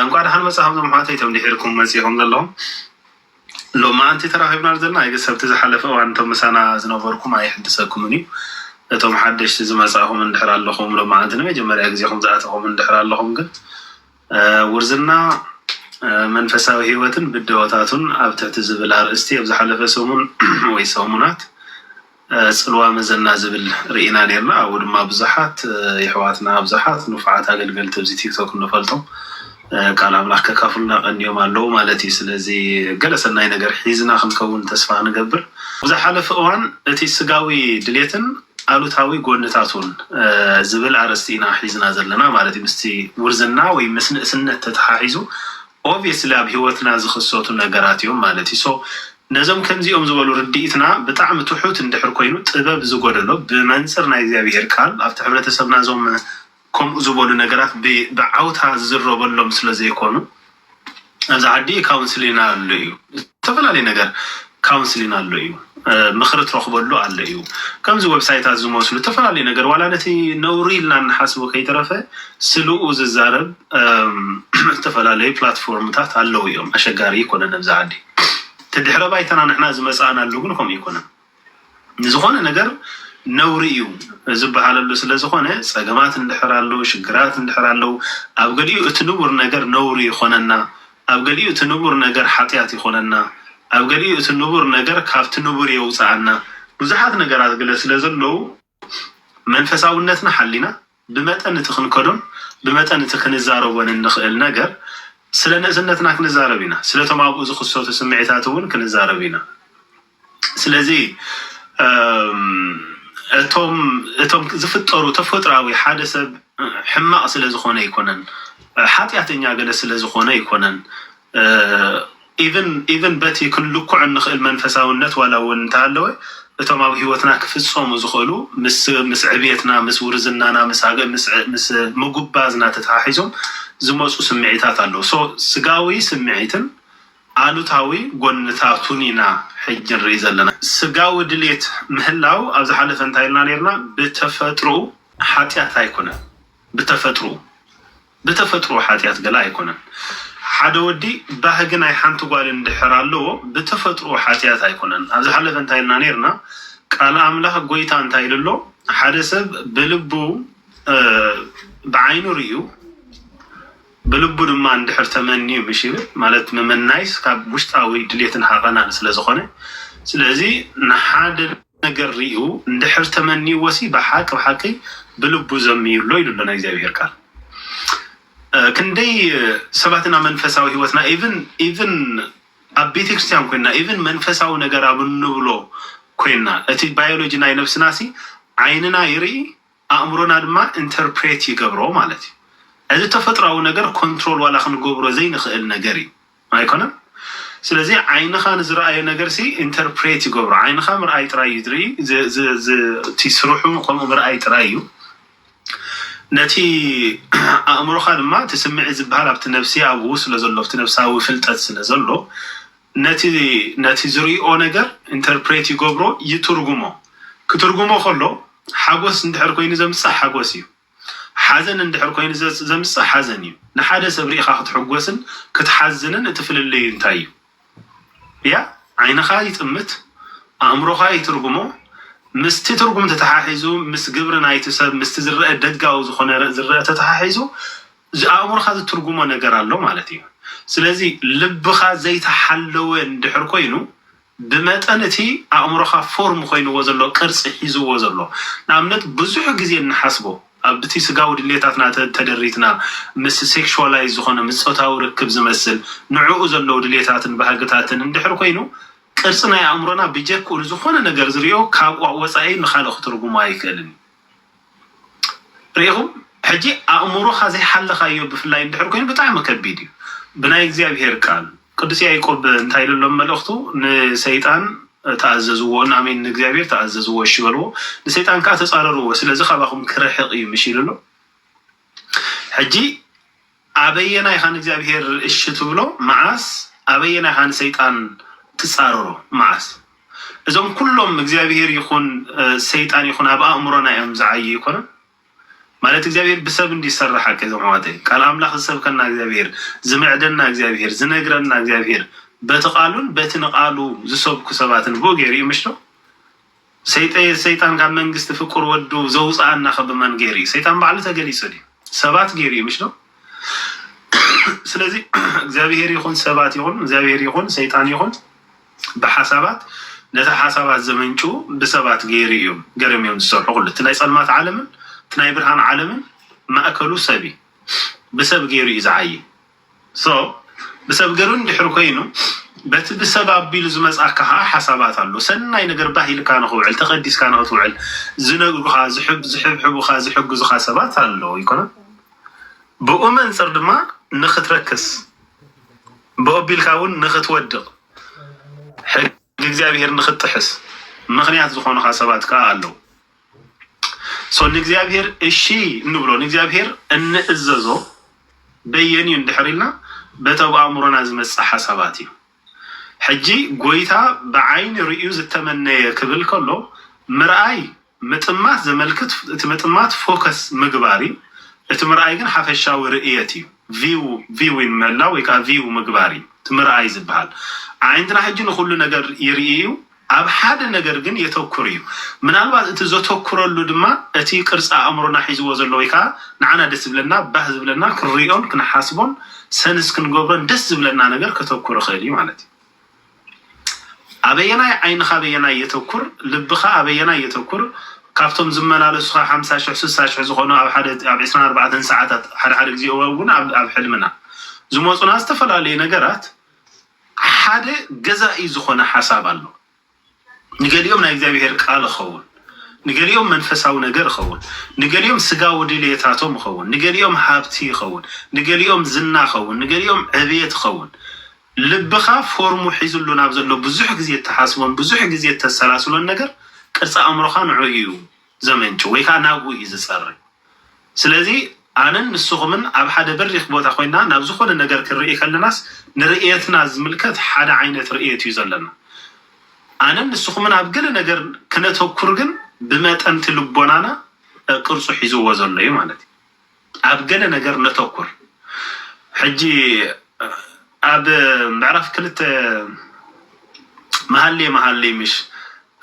እንኳ ደሓን መፅሃብ ዞም ኣሕዋተይ እቶም ድሒርኩም መፂኦም ዘለኹም ሎማ ኣንቲ ተራኺብና ዘለና ኣይገ ሰብቲ ዝሓለፈ እዋን እቶም ምሳና ዝነበርኩም ኣይሕድሰኩምን እዩ እቶም ሓደሽቲ ዝመፃእኹም እንድሕር ኣለኹም ሎማ ኣንቲ ንመጀመርያ ግዜኹም ዝኣተኹም እንድሕር ኣለኹም ግን ውርዝና መንፈሳዊ ህይወትን ብደሆታቱን ኣብ ትሕቲ ዝብል ኣርእስቲ ኣብ ዝሓለፈ ሰሙን ወይ ሰሙናት ጽልዋ መዘና ዝብል ርኢና ነርና ኣብኡ ድማ ብዙሓት ይሕዋትና ብዙሓት ንፉዓት ኣገልገልቲ ኣብዚ ቲክቶክ ንፈልጦም ቃል ኣምላኽ ከካፍሉና ቀንዮም ኣለዉ ማለት እዩ ስለዚ ገለ ሰናይ ነገር ሒዝና ክንከውን ተስፋ ንገብር ኣብ ዝሓለፈ እዋን እቲ ስጋዊ ድሌትን ኣሉታዊ ጎንታቱን ዝብል ኣርእስቲ ኢና ሒዝና ዘለና ማለት እዩ። ምስቲ ውርዝና ወይ ምስ ንእስነት ተተሓሒዙ ኦብየስሊ ኣብ ሂወትና ዝኽሰቱ ነገራት እዮም ማለት እዩ። ሶ ነዞም ከምዚኦም ዝበሉ ርድኢትና ብጣዕሚ ትሑት እንድሕር ኮይኑ ጥበብ ዝጎደሎ ብመንጽር ናይ እግዚኣብሄር ቃል ኣብቲ ሕብረተሰብና እዞም ከምኡ ዝበሉ ነገራት ብዓውታ ዝዝረበሎም ስለ ዘይኮኑ ኣብዚ ዓዲ ካውንስሊና ኣሎ እዩ ዝተፈላለዩ ነገር ካውንስሊን ኣሎ እዩ ምክሪ ትረክበሉ ኣሎ እዩ ከምዚ ወብሳይታት ዝመስሉ ዝተፈላለዩ ነገር ዋላ ነቲ ነውሪ ኢልና እንሓስቦ ከይተረፈ ስልኡ ዝዛረብ ዝተፈላለዩ ፕላትፎርምታት ኣለዉ እዮም ኣሸጋሪ ይኮነን ኣብዚ ዓዲ እቲ ድሕረ ባይታና ንሕና ዝመፃእናሉ ግን ከምኡ ይኮነን ንዝኾነ ነገር ነውሪ እዩ ዝብሃለሉ ስለዝኾነ ፀገማት እንድሕር ኣለዉ ሽግራት እንድሕር ኣለዉ ኣብ ገሊኡ እቲ ንቡር ነገር ነውሪ ይኾነና ኣብ ገሊኡ እቲ ንቡር ነገር ሓጢኣት ይኾነና ኣብ ገሊኡ እቲ ንቡር ነገር ካብቲ ንቡር የውፅኣና ብዙሓት ነገራት ግለ ስለዘለዉ መንፈሳውነትና ሓሊና ብመጠን እቲ ክንከዶን ብመጠን እቲ ክንዛረቦን እንኽእል ነገር ስለ ንእስነትና ክንዛረብ ኢና፣ ስለቶም ኣብኡ ዝኽሰቱ ስምዒታት እውን ክንዛረብ ኢና። ስለዚ እቶም እቶም ዝፍጠሩ ተፈጥራዊ ሓደ ሰብ ሕማቕ ስለ ዝኾነ ኣይኮነን፣ ሓጢኣተኛ ገለ ስለ ዝኾነ ኣይኮነን፣ ኢቭን ኢቭን በቲ ክንልክዖ እንኽእል መንፈሳውነት ዋላ እውን እንተሃለወ እቶም ኣብ ሕይወትና ክፍጸሙ ዝኽእሉ ምስ ምስ ዕብየትና ምስ ውርዝናና ምስ ኣገ ምስ ዕ ምስ ምጉባዝና ተተሓሒዞም ዝመጹ ስምዒታት ኣለዉ so ስጋዊ ስምዒትን ኣሉታዊ ጎንታቱን ኢና ሕጂ ንርኢ ዘለና ስጋዊ ድሌት ምህላው ኣብ ዝሓለፈ እንታይ ኢልና ኔርና ብተፈጥሮኡ ሓጢኣት ኣይኮነን ብተፈጥርኡ ብተፈጥርኡ ሓጥያት ገለ ኣይኮነን ሓደ ወዲ ባህጊ ናይ ሓንቲ ጓል እንድሕር ኣለዎ ብተፈጥርኡ ሓጥያት ኣይኮነን ኣብ ዝሓለፈ እንታይ ኢልና ኔርና ቃል ኣምላኽ ጎይታ እንታይ ኢሉ ኣሎ ሓደ ሰብ ብልቡ ብዓይኑ ርእዩ ብልቡ ድማ እንድሕር ተመንዩ ምሽ ይብል ማለት ምምናይስ ካብ ውሽጣዊ ድሌትን ሃቐናን ስለ ዝኾነ ስለዚ ንሓደ ነገር ሪኡ እንድሕር ተመንይዎሲ ብሓቂ ብሓቂ ብልቡ ዘምዩ ኣሎ ኢሉ ኣሎ ናይ እግዚኣብሄር ቃል ክንደይ ሰባት ኢና መንፈሳዊ ሂወትና ኢቭን ኢቭን ኣብ ቤተክርስትያን ኮይና ኢቭን መንፈሳዊ ነገር ኣብ እንብሎ ኮይና እቲ ባዮሎጂ ናይ ነብስናሲ ዓይንና ይርኢ ኣእምሮና ድማ ኢንተርፕሬት ይገብሮ ማለት እዩ። እዚ ተፈጥሮኣዊ ነገር ኮንትሮል ዋላ ክንገብሮ ዘይንኽእል ነገር እዩ። ኣይኮነን? ስለዚ ዓይንኻ ንዝረኣዮ ነገርሲ ኢንተርፕሬት ይገብሮ። ዓይንኻ ምርኣይ ጥራይ እዩ ዝርኢ፣ እቲ ስርሑ ከምኡ ምርኣይ ጥራይ እዩ። ነቲ ኣእምሮኻ ድማ እቲ ስምዒት ዝበሃል ኣብቲ ነፍሲ ኣብኡ ስለ ዘሎ ኣብቲ ነፍሳዊ ፍልጠት ስለ ዘሎ፣ ነቲ ነቲ ዝርእኦ ነገር ኢንተርፕሬት ይገብሮ ይትርጉሞ ክትርጉሞ ከሎ ሓጎስ እንድሕር ኮይኑ ዘምጽእ ሓጎስ እዩ ሓዘን እንድሕር ኮይኑ ዘምጽእ ሓዘን እዩ ንሓደ ሰብ ርኢኻ ክትሕጎስን ክትሓዝንን እቲ ፍልልዩ እንታይ እዩ ያ ዓይንኻ ይጥምት ኣእምሮኻ ይትርጉሞ ምስቲ ትርጉም ተተሓሒዙ ምስ ግብሪ ናይቲ ሰብ ምስቲ ዝረአ ደጋዊ ዝኾነ ዝረአ ተተሓሒዙ እዚ ኣእምሮኻ ዝትርጉሞ ነገር ኣሎ ማለት እዩ። ስለዚ ልብኻ ዘይተሓለወ እንድሕር ኮይኑ ብመጠን እቲ ኣእምሮኻ ፎርም ኮይንዎ ዘሎ ቅርጺ ሒዝዎ ዘሎ ንኣብነት ብዙሕ ግዜ እንሓስቦ ኣብቲ ስጋዊ ድሌታትና ተደሪትና ምስ ሴክሽዋላይዝ ዝኾነ ምስ ጾታዊ ርክብ ዝመስል ንዕኡ ዘለው ድሌታትን ባህግታትን እንድሕር ኮይኑ ቅርጺ ናይ ኣእምሮና ብጀክኡ ንዝኾነ ነገር ዝሪኦ ካብኡ ወጻኢ ንኻልእ ክትርጉሞ ኣይክእልን እዩ። ርኢኹም ሕጂ ኣእምሮኻ ዘይሓለኻዮ ብፍላይ እንድሕር ኮይኑ ብጣዕሚ ከቢድ እዩ ብናይ እግዚኣብሄር ቃል ቅዱስ ያዕቆብ እንታይ ኢሉ ኣሎ መልእኽቱ ንሰይጣን ተኣዘዝዎ ናሜን ንእግዚኣብሄር ተኣዘዝዎ እሺ በልዎ ንሰይጣን ከዓ ተፃረርዎ ስለዚ ካባኹም ክርሕቕ እዩ ምሽ ኢሉ ኣሎ ሕጂ ኣበየናይ ኢኻ ንእግዚኣብሄር እሺ ትብሎ መዓስ ኣበየናይ ኢኻ ንሰይጣን ትጻረሮ መዓስ እዞም ኩሎም እግዚኣብሄር ይኹን ሰይጣን ይኹን ኣብ ኣእምሮና እዮም ዝዓዩ ኣይኮነን ማለት እግዚኣብሄር ብሰብ እንድዩ ዝሰርሕ ሓቀይ እዞም ኣሕዋተይ ቃል ኣምላኽ ዝሰብከና እግዚኣብሄር ዝምዕደና እግዚኣብሄር ዝነግረና እግዚኣብሄር በቲ ቃሉን በቲ ንቃሉ ዝሰብኩ ሰባትን ብኡ ገይሩ እዩ ምሽዶ ሰይጠየ ሰይጣን ካብ መንግስቲ ፍቁር ወዱ ዘውጽኣና ከ ብመን ጌሩ እዩ ሰይጣን ባዕሉ ተገሊጹ ድዩ ሰባት ጌሩ እዩ ምሽ ዶ ስለዚ እግዚኣብሄር ይኹን ሰባት ይኹን እግዚኣብሄር ይኹን ሰይጣን ይኹን ብሓሳባት ነቲ ሓሳባት ዘመንጩ ብሰባት ጌሩ እዮም ገርም እዮም ዝሰርሑ ኩሉ እቲ ናይ ጸልማት ዓለምን እቲ ናይ ብርሃን ዓለምን ማእከሉ ሰብ እዩ ብሰብ ጌሩ እዩ ዝዓይ So ብሰብ ገሩን ድሕሪ ኮይኑ በቲ ብሰብ ኣቢሉ ዝመጽኣካ ከኣ ሓሳባት ኣሎ ሰናይ ነገር ባህ ኢልካ ንክውዕል ተቀዲስካ ንክትውዕል ዝነግሩካ ዝሕብሕቡካ ዝሕግዙካ ሰባት ኣለዉ ኣይኮነን ብኡ መንጽር ድማ ንክትረክስ ብኡ ኣቢልካ ውን ንክትወድቅ ንእግዚኣብሄር ንክትጥሕስ ምኽንያት ዝኾኑኻ ሰባት ከኣ ኣለዉ so ንእግዚኣብሄር እሺ እንብሎ ንእግዚኣብሄር እንእዘዞ በየን እዩ እንድሕር ኢልና በቲ ኣብ ኣእምሮና ዝመጽእ ሓሳባት እዩ ሕጂ ጎይታ ብዓይኒ ርእዩ ዝተመነየ ክብል ከሎ ምርኣይ ምጥማት ዘመልክት እቲ ምጥማት ፎከስ ምግባር እዩ፣ እቲ ምርኣይ ግን ሓፈሻዊ ርእየት እዩ፣ ቪው፣ ቪዊን፣ ምህላው ወይ ከኣ ቪው ምግባር እዩ እቲ ምርኣይ ዝበሃል። ኣዒንትና ሕጂ ንኹሉ ነገር ይርኢ እዩ፣ ኣብ ሓደ ነገር ግን የተኩር እዩ፣ ምናልባት እቲ ዘተኩረሉ ድማ እቲ ቅርጺ ኣእምሮና ሒዝዎ ዘሎ ወይ ከኣ ንዓና ደስ ዝብለና፣ ባህ ዝብለና፣ ክንርእዮን ክንሓስቦን ሰንስ ክንገብሮን ደስ ዝብለና ነገር ከተኩር ይኽእል እዩ ማለት እዩ። ኣበየናይ ዓይንኻ ኣበየናይ የተኩር ልብኻ ኣበየናይ የተኩር ካብቶም ዝመላለሱኻ ሓምሳ ሽሕ ስሳ ሽሕ ዝኾኑ ኣብ ሓደ ኣብ ዕስራን ኣርባዕተን ሰዓታት ሓደ ሓደ ግዜ እውን ኣብ ኣብ ሕልምና ዝመጹና ዝተፈላለዩ ነገራት ሓደ ገዛኢ ዝኾነ ሓሳብ ኣሎ ንገሊኦም ናይ እግዚኣብሄር ቃል እኸውን፣ ንገሊኦም መንፈሳዊ ነገር እኸውን፣ ንገሊኦም ስጋዊ ድልየታቶም እኸውን፣ ንገሊኦም ሃብቲ እኸውን፣ ንገሊኦም ዝና እኸውን፣ ንገሊኦም ዕብየት እኸውን። ልብኻ ፎርሙ ሒዝሉ ናብ ዘሎ ብዙሕ ግዜ እትሓስቦን ብዙሕ ግዜ እተሰላስሎን ነገር ቅርጺ ኣእምሮኻ ንዕኡ እዩ። ዘመንጭው ወይ ከኣ ናብኡ እዩ ዝጸሪ። ስለዚ ኣነን ንስኹምን ኣብ ሓደ በሪኽ ቦታ ኮይንና ናብ ዝኾነ ነገር ክንርኢ ከለናስ ንርእየትና ዝምልከት ሓደ ዓይነት ርእየት እዩ ዘለና። ኣነን ንስኹምን ኣብ ገለ ነገር ከነተኩር ግን ብመጠን'ቲ ልቦናና ቅርጹ ሒዝዎ ዘሎ እዩ ማለት እዩ። ኣብ ገለ ነገር ነተኩር ሕጂ ኣብ ምዕራፍ ክልተ መሃሌ መሃሌ ምሽ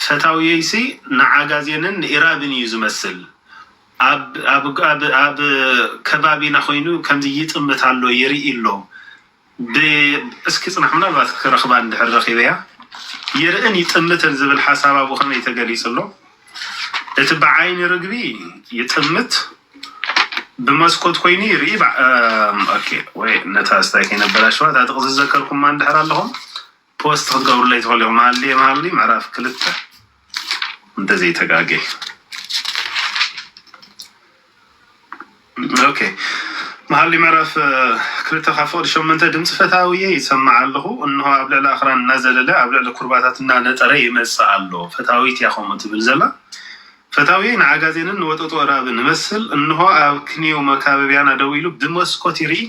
ፈታውየይሲ ንዓጋዜንን ንኢራብን እዩ ዝመስል ኣብ ኣብ ኣብ ኣብ ከባቢና ኮይኑ ከምዚ ይጥምት ኣሎ ይርኢ ኣሎ ብ እስኪ ጽናሕ ምናልባት ክረኽባ እንድሕር ረኺበያ ይርእን ይጥምትን ዝብል ሓሳብ ኣብኡ ከመይ ተገሊጹ ኣሎ እቲ ብዓይኒ ርግቢ ይጥምት ብመስኮት ኮይኑ ይርኢ ብ ኦኬ ወይ ነታ ስታይ ከይነበላሽዋ እታ ጥቕሲ ዝዘከርኩማ እንድሕር ኣለኹም ፖስት ክትገብሩለይ ትኽእሉ ኢኹም ሃልየ መሃሊ ምዕራፍ ክልተ እንተዘይተጋጌ ኦኬ መሃሊ ምዕራፍ ክልተ ካብ ፍቕዲ ሸመንተ ድምፂ ፈታውየ ይሰማዕ ኣለኹ እንሆ ኣብ ልዕሊ ኣኽራን እናዘለለ ኣብ ልዕሊ ኩርባታት እናነጠረ ይመፅእ ኣሎ ፈታዊት እያ ከምኡ ትብል ዘላ ፈታውየ ንዓጋዜንን ንወጠጦ እራብን ንመስል እንሆ ኣብ ክንየው መካበቢያና ደው ኢሉ ብመስኮት ይርኢ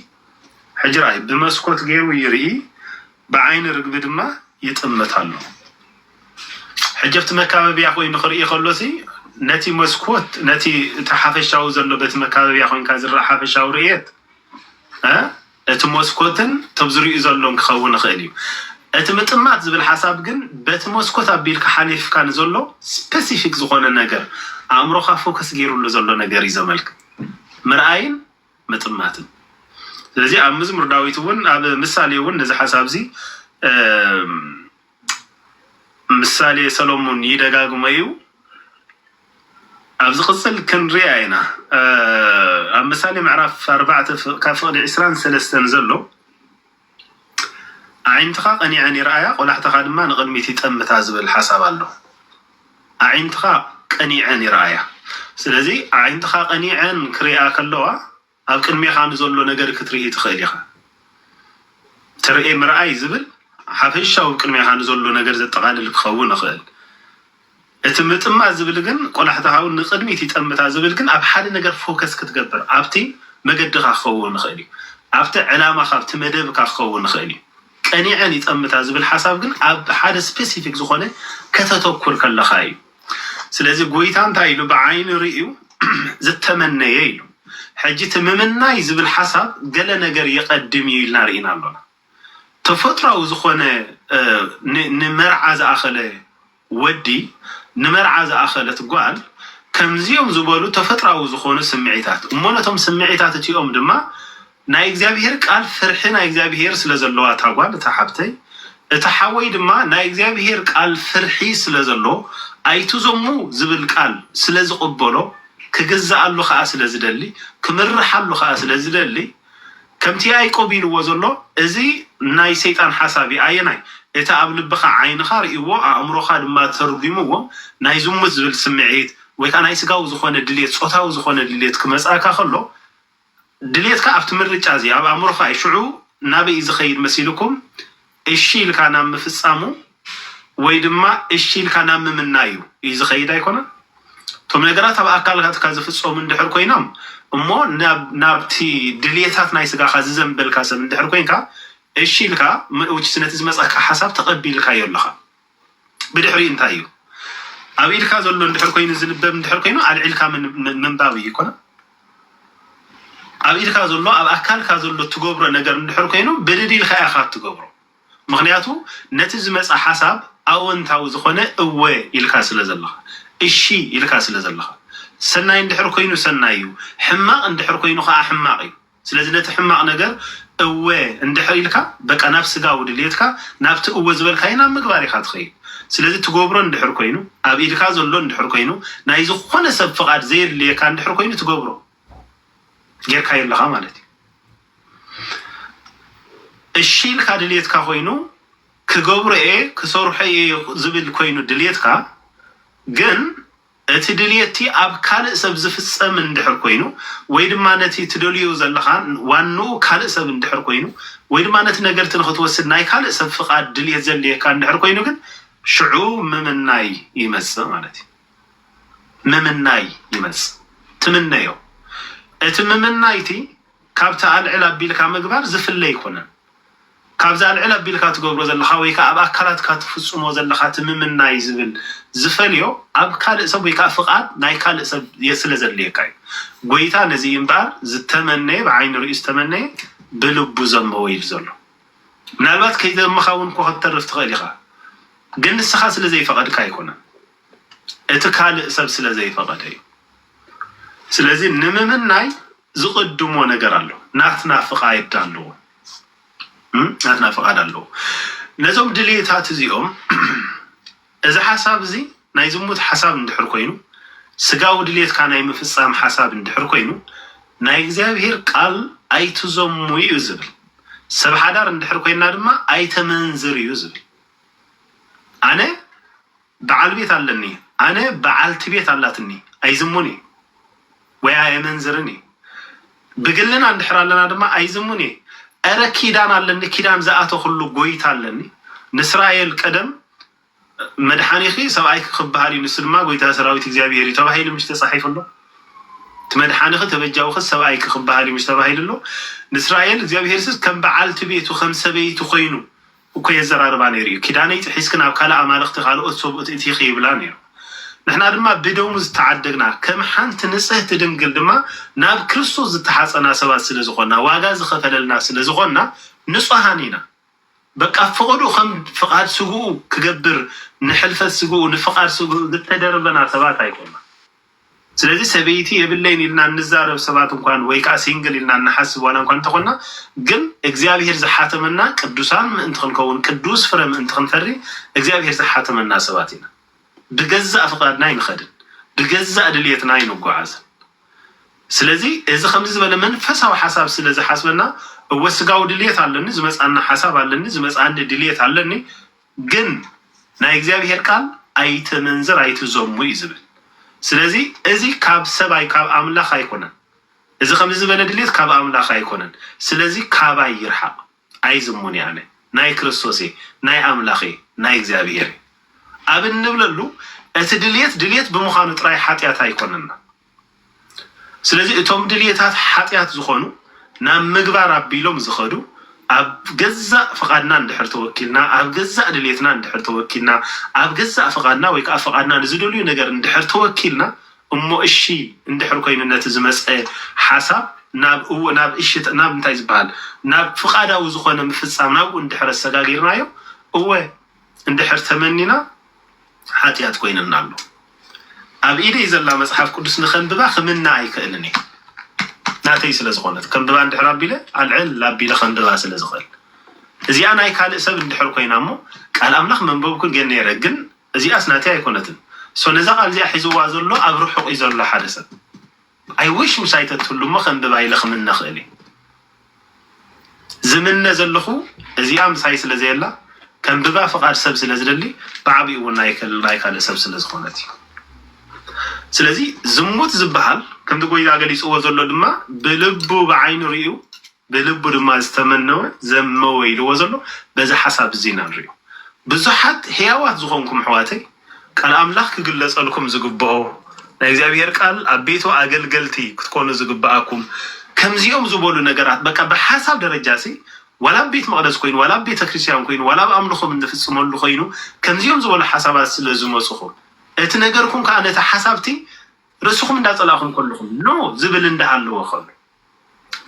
ሕጂ ረኣይ ብመስኮት ገይሩ ይርኢ ብዓይኒ ርግቢ ድማ ይጥምት ኣሎ። ሕጂ ኣብቲ መካበብያ ኮይኑ ክርኢ ከሎሲ ነቲ መስኮት ነቲ እቲ ሓፈሻዊ ዘሎ በቲ መካበብያ ኮንካ ዝረኣ ሓፈሻዊ ርእየት እ እቲ መስኮትን ቶም ዝርእዩ ዘሎን ክኸውን ይኽእል እዩ። እቲ ምጥማት ዝብል ሓሳብ ግን በቲ መስኮት ኣቢልካ ሓሊፍካ ንዘሎ ስፐሲፊክ ዝኾነ ነገር ኣእምሮኻ ፎከስ ገይርሉ ዘሎ ነገር እዩ ዘመልክት። ምርኣይን ምጥማትን ስለዚ ኣብ ምዝሙር ዳዊት እውን ኣብ ምሳሌ እውን ነዚ ሓሳብ እዚ ምሳሌ ሰሎሞን ይደጋግሞ እዩ ኣብ ዝቅፅል ክንሪኣ ኢና ኣብ ምሳሌ ምዕራፍ ኣርባዕተ ካብ ፍቅዲ ዕስራን ሰለስተን ዘሎ ኣዒንትኻ ቀኒዐን ይርኣያ ቆላሕታኻ ድማ ንቕድሚት ይጠምታ ዝብል ሓሳብ ኣሎ። ኣዒንትኻ ቀኒዐን ይርኣያ ስለዚ ኣዒንትኻ ቀኒዐን ክሪኣ ከለዋ ኣብ ቅድሜኻ ንዘሎ ነገር ክትርኢ ትኽእል ኢኻ። ትርኤ ምርኣይ ዝብል ሓፈሻዊ ቅድሜኻ ንዘሎ ነገር ዘጠቓልል ክኸውን ይኽእል። እቲ ምጥማት ዝብል ግን ቆላሕታ ሃው ንቅድሚት ይጠምታ ዝብል ግን ኣብ ሓደ ነገር ፎከስ ክትገብር ኣብቲ መገድኻ ክኸውን ይኽእል እዩ ኣብቲ ዕላማኻ ኣብቲ መደብካ ክኸውን ይኽእል እዩ ቀኒዐን ይጠምታ ዝብል ሓሳብ ግን ኣብ ሓደ ስፐሲፊክ ዝኾነ ከተተኩር ከለኻ እዩ ስለዚ ጎይታ እንታይ ኢሉ ብዓይኒ ርእዩ ዝተመነየ ኢሉ ሕጂ እቲ ምምናይ ዝብል ሓሳብ ገለ ነገር የቀድም እዩ ኢልና ርኢና ኣሎና ተፈጥራዊ ዝኾነ ንመርዓ ዝኣኸለ ወዲ ንመርዓ ዝኣኸለት ጓል ከምዚኦም ዝበሉ ተፈጥራዊ ዝኾኑ ስምዒታት እሞ ነቶም ስምዒታት እቲኦም ድማ ናይ እግዚኣብሄር ቃል ፍርሒ ናይ እግዚኣብሄር ስለ ዘለዋ እታ ጓል እታ ሓብተይ እቲ ሓወይ ድማ ናይ እግዚኣብሄር ቃል ፍርሒ ስለ ዘሎ ኣይትዘሙ ዝብል ቃል ስለ ዝቕበሎ ክግዝኣሉ ከኣ ስለ ዝደሊ ክምርሓሉ ከኣ ስለ ዝደሊ ከምቲ ያእቆብ ኢልዎ ዘሎ እዚ ናይ ሰይጣን ሓሳብ እዩ ኣየናይ እቲ ኣብ ልብኻ ዓይንኻ ርእይዎ ኣእምሮኻ ድማ ተርጉምዎ ናይ ዝሙት ዝብል ስምዒት ወይ ከኣ ናይ ስጋዊ ዝኾነ ድልየት ጾታዊ ዝኾነ ድልየት ክመጽኣካ ከሎ ድልየትካ ኣብቲ ምርጫ እዚ ኣብ ኣእምሮኻ እዩ ሽዑ ናበይ እዩ ዝኸይድ መሲልኩም እሺ ኢልካ ናብ ምፍፃሙ ወይ ድማ እሺ ኢልካ ናብ ምምናዩ እዩ ዝኸይድ ኣይኮነን። እቶም ነገራት ኣብ ኣካላትካ ዝፍፀሙ እንድሕር ኮይኖም እሞ ናብቲ ድልየታት ናይ ስጋኻ ዝዘምበልካ ሰብ እንድሕር ኮይንካ እሺ ኢልካ which is ነቲ ዝመፀካ ሓሳብ ተቐቢልካዮ ኣለኻ። ብድሕሪኡ እንታይ እዩ ኣብ ኢድካ ዘሎ እንድሕር ኮይኑ ዝንበብ እንድሕር ኮይኑ ኣልዒልካ ምንባብ እዩ ይኮነ ኣብ ኢድካ ዘሎ ኣብ ኣካልካ ዘሎ እትገብሮ ነገር እንድሕር ኮይኑ ብድድ ኢልካ ኢኻ እትገብሮ ምክንያቱ ነቲ ዝመፀ ሓሳብ ኣወንታዊ ዝኾነ እወ ኢልካ ስለ ዘለኻ እሺ ኢልካ ስለ ዘለኻ ሰናይ እንድሕር ኮይኑ ሰናይ እዩ ሕማቕ እንድሕር ኮይኑ ከዓ ሕማቕ እዩ ስለዚ ነቲ ሕማቅ ነገር እወ እንድሕር ኢልካ በቃ ናብ ስጋዊ ድልየትካ ናብቲ እወ ዝበልካዮ ናብ ምግባር ኢካ ትከይድ ስለዚ ትገብሮ እንድሕር ኮይኑ ኣብ ኢድካ ዘሎ እንድሕር ኮይኑ ናይ ዝኮነ ሰብ ፍቃድ ዘየድልየካ እንድሕር ኮይኑ ትገብሮ ጌርካዮ ኣለካ ማለት እዩ እሺ ኢልካ ድልየትካ ኮይኑ ክገብሮ እየ ክሰርሖ እየ ዝብል ኮይኑ ድልየትካ ግን እቲ ድልየትቲ ኣብ ካልእ ሰብ ዝፍጸም እንድሕር ኮይኑ ወይ ድማ ነቲ ትደልዮ ዘለኻ ዋንኡ ካልእ ሰብ እንድሕር ኮይኑ ወይ ድማ ነቲ ነገር'ቲ ንኽትወስድ ናይ ካልእ ሰብ ፍቓድ ድልየት ዘድልየካ እንድሕር ኮይኑ ግን ሽዑ ምምናይ ይመጽእ ማለት እዩ። ምምናይ ይመጽእ። ትምነዮ። እቲ ምምናይቲ ካብቲ ኣልዕል ኣቢልካ ምግባር ዝፍለ ኣይኮነን። ካብዛ ልዕል ኣቢልካ ትገብሮ ዘለኻ ወይ ከኣ ኣብ ኣካላትካ ትፍጽሞ ዘለኻ እቲ ምምናይ ዝብል ዝፈልዮ ኣብ ካልእ ሰብ ወይ ከኣ ፍቓድ ናይ ካልእ ሰብ ስለ ዘድልየካ እዩ። ጎይታ ነዚ እዩ እምበኣር ዝተመነየ ብዓይኒ ርእዩ ዝተመነየ ብልቡ ዘንበወ ኢሉ ዘሎ። ምናልባት ከይዘምኻ እውን እኮ ክትተርፍ ትኽእል ኢኻ ግን ንስኻ ስለ ዘይፈቐድካ ኣይኮነን እቲ ካልእ ሰብ ስለ ዘይፈቐደ እዩ። ስለዚ ንምምናይ ዝቅድሞ ነገር ኣሎ ናትና ፍቃይድ ኣለዎ ናትና ፍቃድ ኣለዎ ነዞም ድልየታት እዚኦም እዚ ሓሳብ እዚ ናይ ዝሙት ሓሳብ እንድሕር ኮይኑ ስጋዊ ድልየትካ ናይ ምፍጻም ሓሳብ እንድሕር ኮይኑ ናይ እግዚኣብሄር ቃል ኣይትዘሙ እዩ ዝብል ሰብ ሓዳር እንድሕር ኮይና ድማ ኣይተመንዝር እዩ ዝብል ኣነ በዓል ቤት ኣለኒ ኣነ በዓልቲ ቤት ኣላትኒ ኣይዝሙን እየ ወይ ኣየመንዝርን እየ ብግልና እንድሕር ኣለና ድማ ኣይዝሙን እየ እረ ኪዳን ኣለኒ ኪዳን ዝኣተኹሉ ጎይታ ኣለኒ ንስራኤል ቀደም መድሓኒኺ ሰብኣይኪ ክበሃል እዩ ንሱ ድማ ጎይታ ሰራዊት እግዚኣብሄር እዩ ተባሂሉ ምሽ ተፃሒፉ ኣሎ እቲ መድሓኒኺ ተበጃውኺ ሰብኣይኪ ክበሃል እዩ ምሽ ተባሂሉ ኣሎ ንስራኤል እግዚኣብሄር ስስ ከም በዓልቲ ቤቱ ከም ሰበይቲ ኮይኑ እኮ የዘራርባ ነይሩ እዩ ኪዳነይ ጥሒስኪ ናብ ካልእ ኣማልኽቲ ካልኦት ሰብኡት እቲኺ ይብላ ነይሩ ንሕና ድማ ብደሙ ዝተዓደግና ከም ሓንቲ ንጽህቲ ድንግል ድማ ናብ ክርስቶስ ዝተሓጸና ሰባት ስለ ዝኾንና ዋጋ ዝኸፈለልና ስለ ዝኾንና ንጹሃን ኢና በቃ ፍቕዱ ከም ፍቓድ ስግኡ ክገብር ንሕልፈት ስግኡ ንፍቓድ ስግኡ ዝተደርበና ሰባት ኣይኮናን ስለዚ ሰበይቲ የብለይን ኢልና እንዛረብ ሰባት እንኳን ወይ ከኣ ሲንግል ኢልና እንሓስብ ዋላ እንኳን እንተኾንና ግን እግዚኣብሄር ዝሓተመና ቅዱሳን ምእንቲ ክንከውን ቅዱስ ፍረ ምእንቲ ክንፈሪ እግዚኣብሄር ዝሓተመና ሰባት ኢና። ብገዛእ ፍቃድና ኣይንኸድን ብገዛእ ድልየትና ኣይንጎዓዝን። ስለዚ እዚ ከምዚ ዝበለ መንፈሳዊ ሓሳብ ስለ ዝሓስበና እወ ስጋዊ ድልየት ኣለኒ ዝመጽኣና ሓሳብ ኣለኒ ዝመጽኣኒ ድልየት ኣለኒ ግን ናይ እግዚኣብሄር ቃል ኣይተመንዝር ኣይትዘሙ እዩ ዝብል ስለዚ እዚ ካብ ሰብ ኣይ ካብ ኣምላኽ ኣይኮነን እዚ ከምዚ ዝበለ ድሌት ካብ ኣምላኽ ኣይኮነን ስለዚ ካባይ ይርሓቅ ኣይዝሙን እየ ኣነ ናይ ክርስቶስ እየ ናይ ኣምላኽ እየ ናይ እግዚኣብሄር እየ ኣብ እንብለሉ እቲ ድሌት ድሌት ብምዃኑ ጥራይ ሓጢኣት ኣይኮነና ስለዚ እቶም ድልየታት ሓጢኣት ዝኾኑ ናብ ምግባር ኣቢሎም ዝኸዱ ኣብ ገዛእ ፍቓድና እንድሕር ተወኪልና፣ ኣብ ገዛእ ድልየትና እንድሕር ተወኪልና፣ ኣብ ገዛእ ፍቓድና ወይ ከኣ ፍቓድና ንዝደልዩ ነገር እንድሕር ተወኪልና እሞ እሺ እንድሕር ኮይኑ ነቲ ዝመጸ ሓሳብ ናብ እው ናብ እሺ ናብ እንታይ ዝበሃል ናብ ፍቓዳዊ ዝኾነ ምፍጻም ናብኡ እንድሕር ኣሰጋጊርናዮ እወ እንድሕር ተመኒና ሓጥያት ኮይንና ኣሎ። ኣብ ኢደይ ዘላ መጽሓፍ ቅዱስ ንከንብባ ክምነ ኣይክእልን እየ ናተይ ስለ ዝኮነት ከንብባ እንድሕር ኣቢለ ኣልዕል ኣቢለ ከንብባ ስለ ዝክእል እዚኣ ናይ ካልእ ሰብ እንድሕር ኮይና እሞ ቃል ኣምላኽ መንበብኩ ገ ነይረ ግን እዚኣስ ናተይ ኣይኮነትን ሶ ነዛ ቃል እዚኣ ሒዝዋ ዘሎ ኣብ ርሑቅ እዩ ዘሎ ሓደ ሰብ I wish ምሳይ ተትህሉ እሞ ከንብባ ኢለ ክምነ ክእል እየ ዝምነ ዘለኩ እዚኣ ምሳይ ስለ ዘየላ ከንብባ ፍቃድ ሰብ ስለ ዝደሊ ብዓቢኡ እውን ናይ ካልእ ሰብ ስለ ዝኮነት እዩ ስለዚ ዝሙት ዝበሃል ከምቲ ጎይታ ገሊፅዎ ዘሎ ድማ ብልቡ ብዓይኑ ሪኡ ብልቡ ድማ ዝተመነወ ዘመወ ኢልዎ ዘሎ በዚ ሓሳብ እዚ ኢና ንሪኦ። ብዙሓት ሕያዋት ዝኾንኩም ኣሕዋተይ ቃል ኣምላኽ ክግለጸልኩም ዝግብኦ ናይ እግዚኣብሔር ቃል ኣብ ቤቱ ኣገልገልቲ ክትኮኑ ዝግብኣኩም ከምዚኦም ዝበሉ ነገራት በቃ ብሓሳብ ደረጃሲ ዋላ ኣብ ቤት መቅደስ ኮይኑ ዋላ ኣብ ቤተ ክርስቲያን ኮይኑ ዋላ ኣብ ኣምልኾም እንፍጽመሉ ኮይኑ ከምዚኦም ዝበሉ ሓሳባት ስለ ዝመጹኹም እቲ ነገርኩም ከዓ ነቲ ሓሳብቲ ርእስኹም እንዳጸላእኹም ከለኹም ኖ ዝብል እንዳሃለወ ከሎ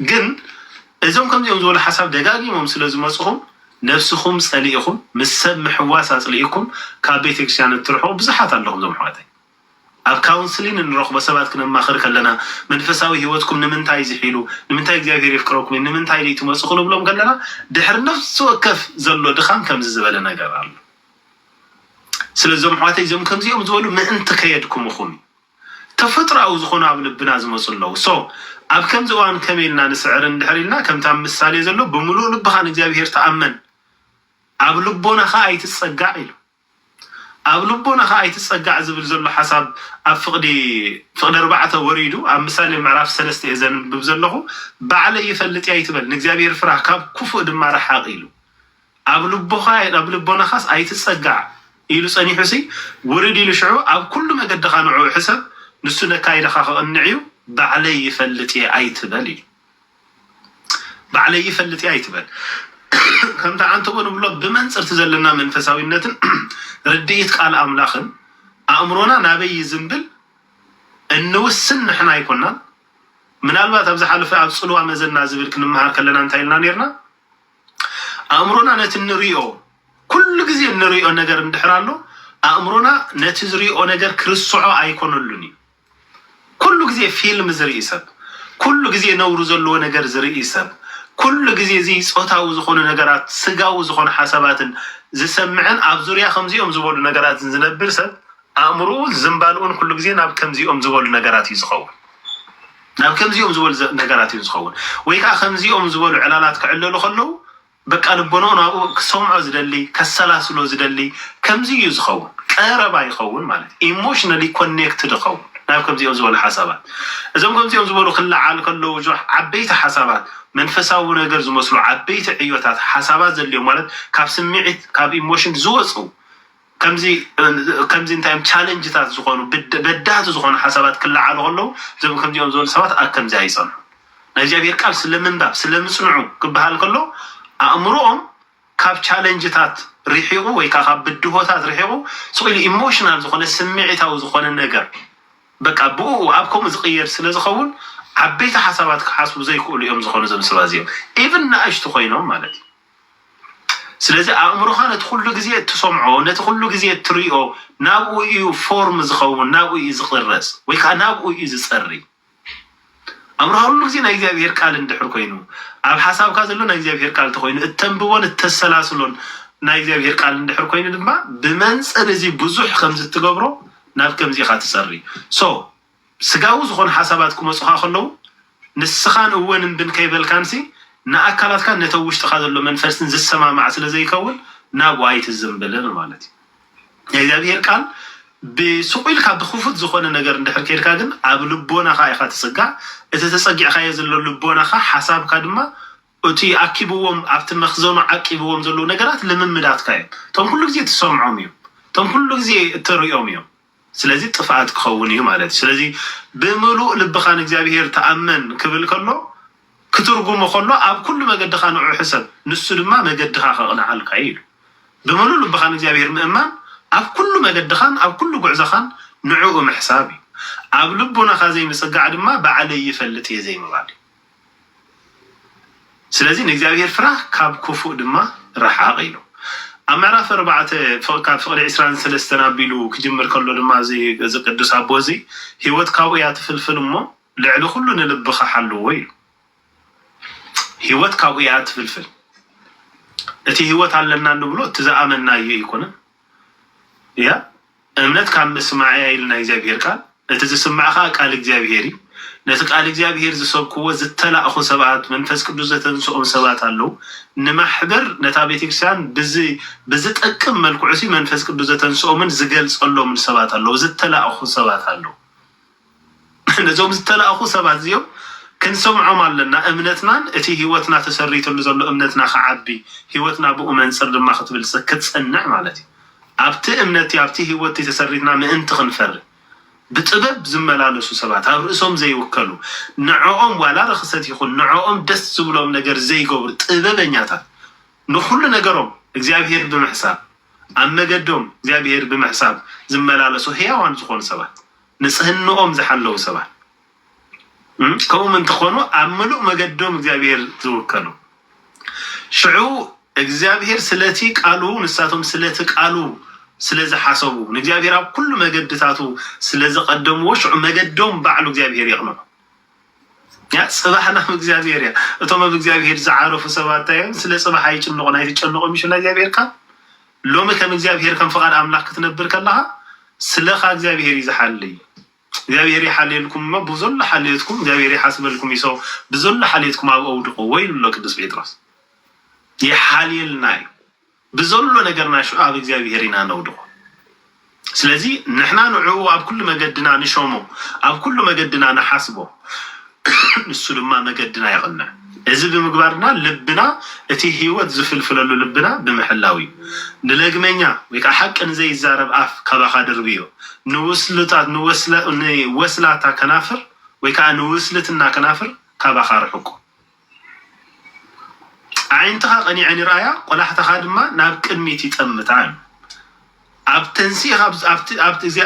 ግን እዞም ከምዚኦም ዝበሉ ሓሳብ ደጋጊሞም ስለ ዝመጹኹም ነብስኹም ጸሊኢኹም ምስ ሰብ ምሕዋስ ኣጽሊኢኩም ካብ ቤተክርስትያን እትርሕቁ ብዙሓት ኣለኹም እዞም ኣሕዋተይ ኣብ ካውንስሊን እንረኽቦ ሰባት ክነማኽር ከለና መንፈሳዊ ህይወትኩም ንምንታይ ዝሒሉ ንምንታይ እግዚኣብሄር የፍቅረኩም እዩ ንምንታይ ደይ ትመጹ ክንብሎም ከለና ድሕሪ ነፍሲ ወከፍ ዘሎ ድኻም ከምዚ ዝበለ ነገር ኣሎ ስለዚ እዞም ኣሕዋተይ እዞም ከምዚኦም ዝበሉ ምእንቲ ከየድክሙኹም እዩ ተፈጥሮኣዊ ዝኾኑ ኣብ ልብና ዝመጹ ኣለዉ so ኣብ ከምዚ እዋን ከመይ ኢልና ንስዕር እንድሕር ኢልና ከምቲ ኣብ ምሳሌ ዘሎ ብምሉእ ልብኻ ንእግዚኣብሄር ተኣመን ኣብ ልቦናኻ ኣይትጸጋዕ ኢሉ ኣብ ልቦናኻ ኣይትጸጋዕ ዝብል ዘሎ ሓሳብ ኣብ ፍቕዲ ፍቕዲ ኣርባዕተ ወሪዱ ኣብ ምሳሌ ምዕራፍ ሰለስተ እየ ዘንብብ ዘለኹ ባዕለይ ይፈልጥ እየ ኣይትበል ንእግዚኣብሄር ፍራህ ካብ ኩፉእ ድማ ርሓቕ ኢሉ ኣብ ልቦኻ ኣብ ልቦናኻስ ኣይትጸጋዕ ኢሉ ጸኒሑሲ ውርድ ኢሉ ሽዑ ኣብ ኩሉ መገድኻ ንዕኡ ሕሰብ ንሱ ነካይዳኻ ክቕንዕዩ ባዕለይ ይፈልጥየ ኣይትበል ኢሉ ባዕለይ ይፈልጥየ ኣይትበል ከምቲ ዓንተቦ ንብሎ ብመንጽርቲ ዘለና መንፈሳዊነትን ርድኢት ቃል ኣምላኽን ኣእምሮና ናበይ ይዝንብል እንውስን ንሕና ኣይኮናን ምናልባት ኣብ ዝሓለፈ ኣብ ጽልዋ መዘና ዝብል ክንመሃር ከለና እንታይ ኢልና ኔርና ኣእምሮና ነቲ እንርእዮ ኩሉ ግዜ እንርእዮ ነገር እንድሕር ኣሎ ኣእምሮና ነቲ ዝርእዮ ነገር ክርስዖ ኣይኮነሉን እዩ። ኩሉ ግዜ ፊልም ዝርኢ ሰብ፣ ኩሉ ግዜ ነውሪ ዘለዎ ነገር ዝርኢ ሰብ፣ ኩሉ ግዜ እዚ ጾታዊ ዝኾኑ ነገራት ስጋዊ ዝኾኑ ሓሳባትን ዝሰምዕን ኣብ ዙርያ ከምዚኦም ዝበሉ ነገራትን ዝነብር ሰብ ኣእምርኡን ዝንባልኡን ኩሉ ግዜ ናብ ከምዚኦም ዝበሉ ነገራት እዩ ዝኸውን። ናብ ከምዚኦም ዝበሉ ነገራት እዩ ዝኸውን ወይ ከኣ ከምዚኦም ዝበሉ ዕላላት ክዕለሉ ከለዉ በቃ ልቦንኡ ናብኡ ክሰምዖ ዝደሊ ከሰላስሎ ዝደሊ ከምዚ እዩ ዝኸውን ቀረባ ይኸውን ማለት እዩ ኢሞሽነሊ ኮኔክትድ ይኸውን ናብ ከምዚኦም ዝበሉ ሓሳባት እዞም ከምዚኦም ዝበሉ ክለዓል ከለዉ ጆሕ ዓበይቲ ሓሳባት መንፈሳዊ ነገር ዝመስሉ ዓበይቲ ዕዮታት ሓሳባት ዘድልዮም ማለት ካብ ስምዒት ካብ ኢሞሽን ዝወጹ ከምዚ ከምዚ እንታይ እዮም ቻለንጅታት ዝኾኑ ብድ በዳህቲ ዝኾኑ ሓሳባት ክለዓሉ ከለዉ እዞም ከምዚኦም ዝበሉ ሰባት ኣብ ከምዚ ኣይጸንሑ ናይ እግዚኣብሄር ቃል ስለ ምንባብ ስለ ምጽንዑ ክበሃል ከሎ ኣእምሮኦም ካብ ቻለንጅታት ርሒቑ ወይ ከኣ ካብ ብድሆታት ርሒቑ ስቕ ኢሉ ኢሞሽናል ዝኾነ ስምዒታዊ ዝኾነ ነገር በቃ ብእኡ ኣብ ከምኡ ዝቕየድ ስለ ዝኸውን ዓበይቲ ሓሳባት ክሓስቡ ዘይክእሉ እዮም ዝኾኑ እዞም ሰባ እዚኦም ኢቭን ንኣሽቱ ኮይኖም ማለት እዩ። ስለዚ ኣእምሮኻ ነቲ ኩሉ ግዜ እትሰምዖ ነቲ ኩሉ ግዜ እትሪኦ ናብኡ እዩ ፎርም ዝኸውን ናብኡ እዩ ዝቕረጽ ወይ ከዓ ናብኡ እዩ ዝጸሪ ኣእምሮኻ ኩሉ ግዜ ናይ እግዚኣብሄር ቃል እንድሕር ኮይኑ ኣብ ሓሳብካ ዘሎ ናይ እግዚኣብሄር ቃል ተኮይኑ እተንብቦን እተሰላስሎን ናይ እግዚኣብሄር ቃል እንድሕር ኮይኑ ድማ ብመንጽር እዚ ብዙሕ ከምዚ እትገብሮ ናብ ከምዚ ኢኻ ትጸሪ ሶ ስጋዊ ዝኾኑ ሓሳባት ክመጹኻ ከለዉ፣ ንስኻን እወን እምብን ከይበልካንሲ፣ ንኣካላትካን ነቲ ኣብ ውሽጥኻ ዘሎ መንፈስን ዝሰማማዕ ስለ ዘይከውን፣ ናብኡ ኣይትዝምብልን ማለት እዩ። ናይ እግዚኣብሄር ቃል ብስቑ ኢልካ ብክፉት ዝኾነ ነገር እንድሕር ኬድካ ግን፣ ኣብ ልቦናኻ ኢኻ ትጽጋዕ፣ እቲ ተጸጊዕካዮ ዘሎ ልቦናኻ፣ ሓሳብካ ድማ እቲ ኣኪብዎም ኣብቲ መኽዘኑ ዓቂብዎም ዘለዉ ነገራት ልምምዳትካ እዮም። እቶም ኩሉ ግዜ እትሰምዖም እዮም። እቶም ኩሉ ግዜ እተርእዮም እዮም። ስለዚ ጥፍኣት ክኸውን እዩ ማለት እዩ። ስለዚ ብምሉእ ልብኻ ንእግዚኣብሄር ተኣመን ክብል ከሎ ክትርጉሞ ከሎ ኣብ ኩሉ መገድኻ ንዑ ሕሰብ ንሱ ድማ መገድኻ ከቕንዓልካ እዩ ኢሉ። ብምሉእ ልብኻ ንእግዚኣብሄር ምእማን ኣብ ኩሉ መገድኻን ኣብ ኩሉ ጉዕዘኻን ንዕኡ ምሕሳብ እዩ። ኣብ ልቡናኻ ዘይምጽጋዕ ድማ ባዕለይ ይፈልጥ እየ ዘይምባል እዩ። ስለዚ ንእግዚኣብሄር ፍራሕ ካብ ኩፉእ ድማ ርሓቕ ኢሉ። ኣብ ምዕራፍ ኣርባዕተ ካብ ፍቕዲ ዕስራን ሰለስተን ኣቢሉ ክጅምር ከሎ ድማ እዚ እዚ ቅዱስ ኣቦ እዚ ህይወት ካብኡ እያ ትፍልፍል እሞ ልዕሊ ኩሉ ንልብኻ ሓልዎ ኢሉ። ህይወት ካብኡ እያ ትፍልፍል። እቲ ህይወት ኣለና እንብሎ እቲ ዝኣመናዮ ኣይኮነን። እያ እምነት ካብ ምስማዕ እያ ኢሉ ናይ እግዚኣብሄር ቃል፣ እቲ ዝስማዕ ከኣ ቃል እግዚኣብሄር እዩ። ነቲ ቃል እግዚኣብሄር ዝሰብክዎ ዝተላእኩ ሰባት፣ መንፈስ ቅዱስ ዘተንስኦም ሰባት ኣለዉ። ንማሕበር ነታ ቤተክርስቲያን ብዚ ብዝጠቅም መልክዑሲ መንፈስ ቅዱስ ዘተንስኦምን ዝገልጸሎምን ሰባት ኣለዉ፣ ዝተላእኩ ሰባት ኣለዉ። ነዞም ዝተላእኩ ሰባት እዚኦም ክንሰምዖም ኣለና፣ እምነትናን እቲ ህይወትና ተሰሪትሉ ዘሎ እምነትና ክዓቢ፣ ህይወትና ብኡ መንጽር ድማ ክትብልጽግ ክትጸንዕ ማለት እዩ። ኣብቲ እምነት'ቲ ኣብቲ ህይወት'ቲ ተሰሪትና ምእንቲ ክንፈሪ ብጥበብ ዝመላለሱ ሰባት፣ ኣብ ርእሶም ዘይውከሉ፣ ንዕኦም ዋላ ርኽሰት ይኹን ንዕኦም ደስ ዝብሎም ነገር ዘይገብሩ ጥበበኛታት፣ ንኹሉ ነገሮም እግዚኣብሄር ብምሕሳብ፣ ኣብ መገዶም እግዚኣብሄር ብምሕሳብ ዝመላለሱ ህያዋን ዝኾኑ ሰባት። ንጽህንኦም ዝሓለዉ ሰባት ከምኡ ምእንቲ ኾኑ ኣብ ምሉእ መገዶም እግዚኣብሔር ዝውከሉ ሽዑ እግዚኣብሔር ስለቲ ቃሉ ንሳቶም ስለቲ ቃሉ ስለ ዝሓሰቡ ንእግዚኣብሔር ኣብ ኩሉ መገድታቱ ስለ ዘቐደምዎ ሽዑ መገዶም ባዕሉ እግዚኣብሔር የቕንዑ። እያ ፅባሕ ናብ እግዚኣብሔር እያ እቶም ኣብ እግዚኣብሔር ዝዓረፉ ሰባት እንታይ እዮም ስለ ፅባሕ ኣይጭንቁን ኣይትጨንቆም ይሽላ እግዚኣብሔር ካብ ሎሚ ከም እግዚኣብሔር ከም ፍቃድ ኣምላክ ክትነብር ከለካ ስለካ እግዚኣብሔር እዩ ዝሓልይ እግዚኣብሔር ይሓልየልኩም እሞ ብዘሎ ሓልዮትኩም እግዚኣብሔር ይሓስበልኩም ይሶ ብዘሎ ሓልዮትኩም ኣብ ኣውድቆ ወይ ንሎ ቅዱስ ጴጥሮስ ይሓልየልና እዩ ብዘሎ ነገርና ሽዑ ኣብ እግዚኣብሄር ኢና ነውድቖ። ስለዚ ንሕና ንዕኡ ኣብ ኩሉ መገድና ንሾሞ፣ ኣብ ኩሉ መገድና ንሓስቦ፣ ንሱ ድማ መገድና የቕንዕ። እዚ ብምግባር ድማ ልብና እቲ ህይወት ዝፍልፍለሉ ልብና ብምሕላው እዩ። ንለግመኛ ወይ ከዓ ሓቂ ንዘይዛረብ ኣፍ ካባኻ ድርብዮ፣ ንወስላታ ከናፍር ወይ ከዓ ንውስልትና ከናፍር ካባኻ ኣርሕቆ። ኣዒንትኻ ቀኒዐን ይርኣያ፣ ቆላሕታኻ ድማ ናብ ቅድሚት ይጠምታ እዩ። ኣብ ተንሲእኻ